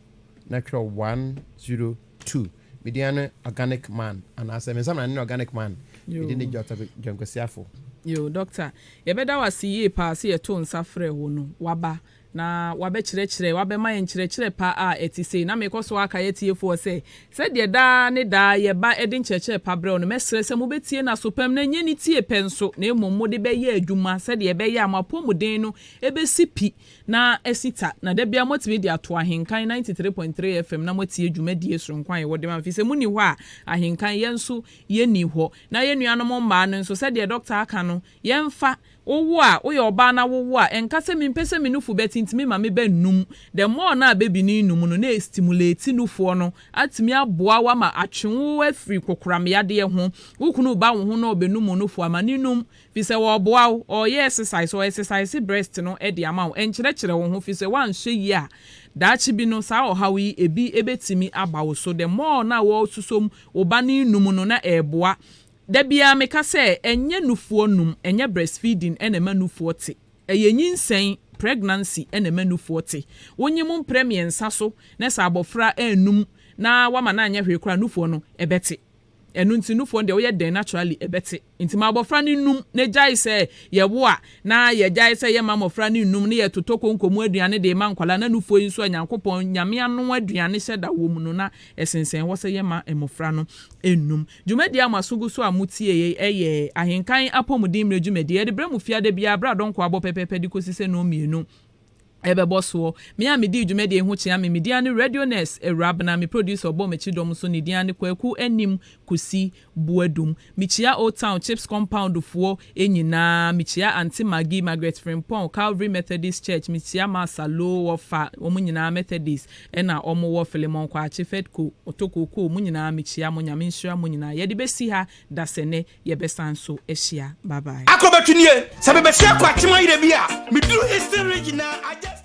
na kyerɛw one zero two. Me din ara ne organic man anaasɛ me nsamena no ne organic man. Me din ne Doctor John Kwasi Afo. Yoo, Doctor, yɛbɛda wo ase yie paa sɛ yɛtoo nsa frɛɛ wo no, woaba na woabɛkyerɛkyerɛ, woabɛma yɛn nkyerɛkyerɛ pa a ɛte sei. Na merekɔ so aka yɛn atiefoɔ sɛ, Sɛdeɛ daa ne daa yɛ ba de nkyerɛkyerɛ pa brɛ wo no, mɛsrɛ sɛ mobɛtie no aso pam, na ɛnyɛ ne tie pɛ nso, na mmom mode bɛyɛ adwuma, sɛdeɛ ɛbɛyɛ a mo apɔmuden no bɛsi pi na asi ta, na da biara moatumi de ato Ahenkan ninety three point three FM na moatie dwumadie soronko a yɛwɔ de ma mo, ɛfiri sɛ monni hɔ a Ahenkan yɛn nso yɛnni hɔ, na yɛn nuanom mmaa no nso, sɛdeɛ Dɔkta aka no, Yɛmfa, wowo a, woyɛ ɔbaa na wowo a, ɛnka sɛ mempɛ sɛ me nufu bɛtintimi ma me ba nnum. The more no a baby no nnum no, na ɛstimulate nufoɔ no atumi aboa wo ama atwe wo afiri kokoram yadeɛ ho. Wo kunu reba wo ho na ɔbɛnum wo nufoɔ ama no nnum, firi sɛ ɔreboa wo, ɔreyɛ exercise, ɔ exercise breast no de ama wo. Ɛnkyerɛkyerɛ wo ho, firi sɛ woanhwɛ yie a, daakye bi no saa ɔhaw yi, ɛbi bɛtumi aba wo so. The more no a wosusom wo ba no nnum no, na ɛreboa Da biara meka sɛ ɛnyɛ nufoɔ num, ɛnyɛ breastfeeding na ɛma nufoɔ te. Ɛyɛ nyinsɛn, pregnancy, na ɛma nufoɔ te. Wonye mo mprɛ mmiɛnsa so na sɛ abɔfra annum na woama no anyɛ hwee koraa a, nufoɔ no, ɛbɛte. Ɛno nti nufoɔ no deɛ woyɛ dɛn naturally ɛbɛte. Nti ma abɔfra no nnum na ɛgyae sɛ yɛwo a na yɛgyae sɛ yɛmma mmɔfra no nnum na yɛtotɔ konko mu aduane de rema nkwadaa na nufoɔ yi nso a Nyankopɔn, Nyame anoa aduane hyɛ da wɔ mu no na ɛsensɛn hɔ sɛ yɛmma mmɔfra no nnum. Dwumadie a mo aso gu so a mo tie yei ɛyɛ Ahenkan Apɔmuden Mmerɛ Dwumadie. Yɛde brɛ mo fie ada biara berɛ a dɔnkɔ abɔ pɛpɛɛpɛ de kɔsi sɛ nnɔnmienu ɛbɛbɔ soɔ. Me a medii dwumadie yi ho kyea me, me din ara ne Radio Nurse Awurabena. Me producer a ɔbɔɔ m'akyi dɔm nso ne din ara ne Kwaku Anim Kusi Boadum. Mekyia Old Town Chips Compound foɔ nyinaa. Mekyia Aunty Maggie, Margaret Frimpong, Calvary Methodist Church. Mekyia Marsa Low wɔfa wɔn nyinaa Methodist. Ɛna ɔmo wɔ Filemon Kwakye, Fedco, Otokookoo, mo nyinaa me kyia mo Nyame nhyira mo nyinaa yɛde bɛsi ha dasɛnɛ yɛbɛsan nso ahyia bye bye. Akɔ bɛtu nie sɛ me bɛhyia kwakye mayerɛ bi a me duru eastern region na I just.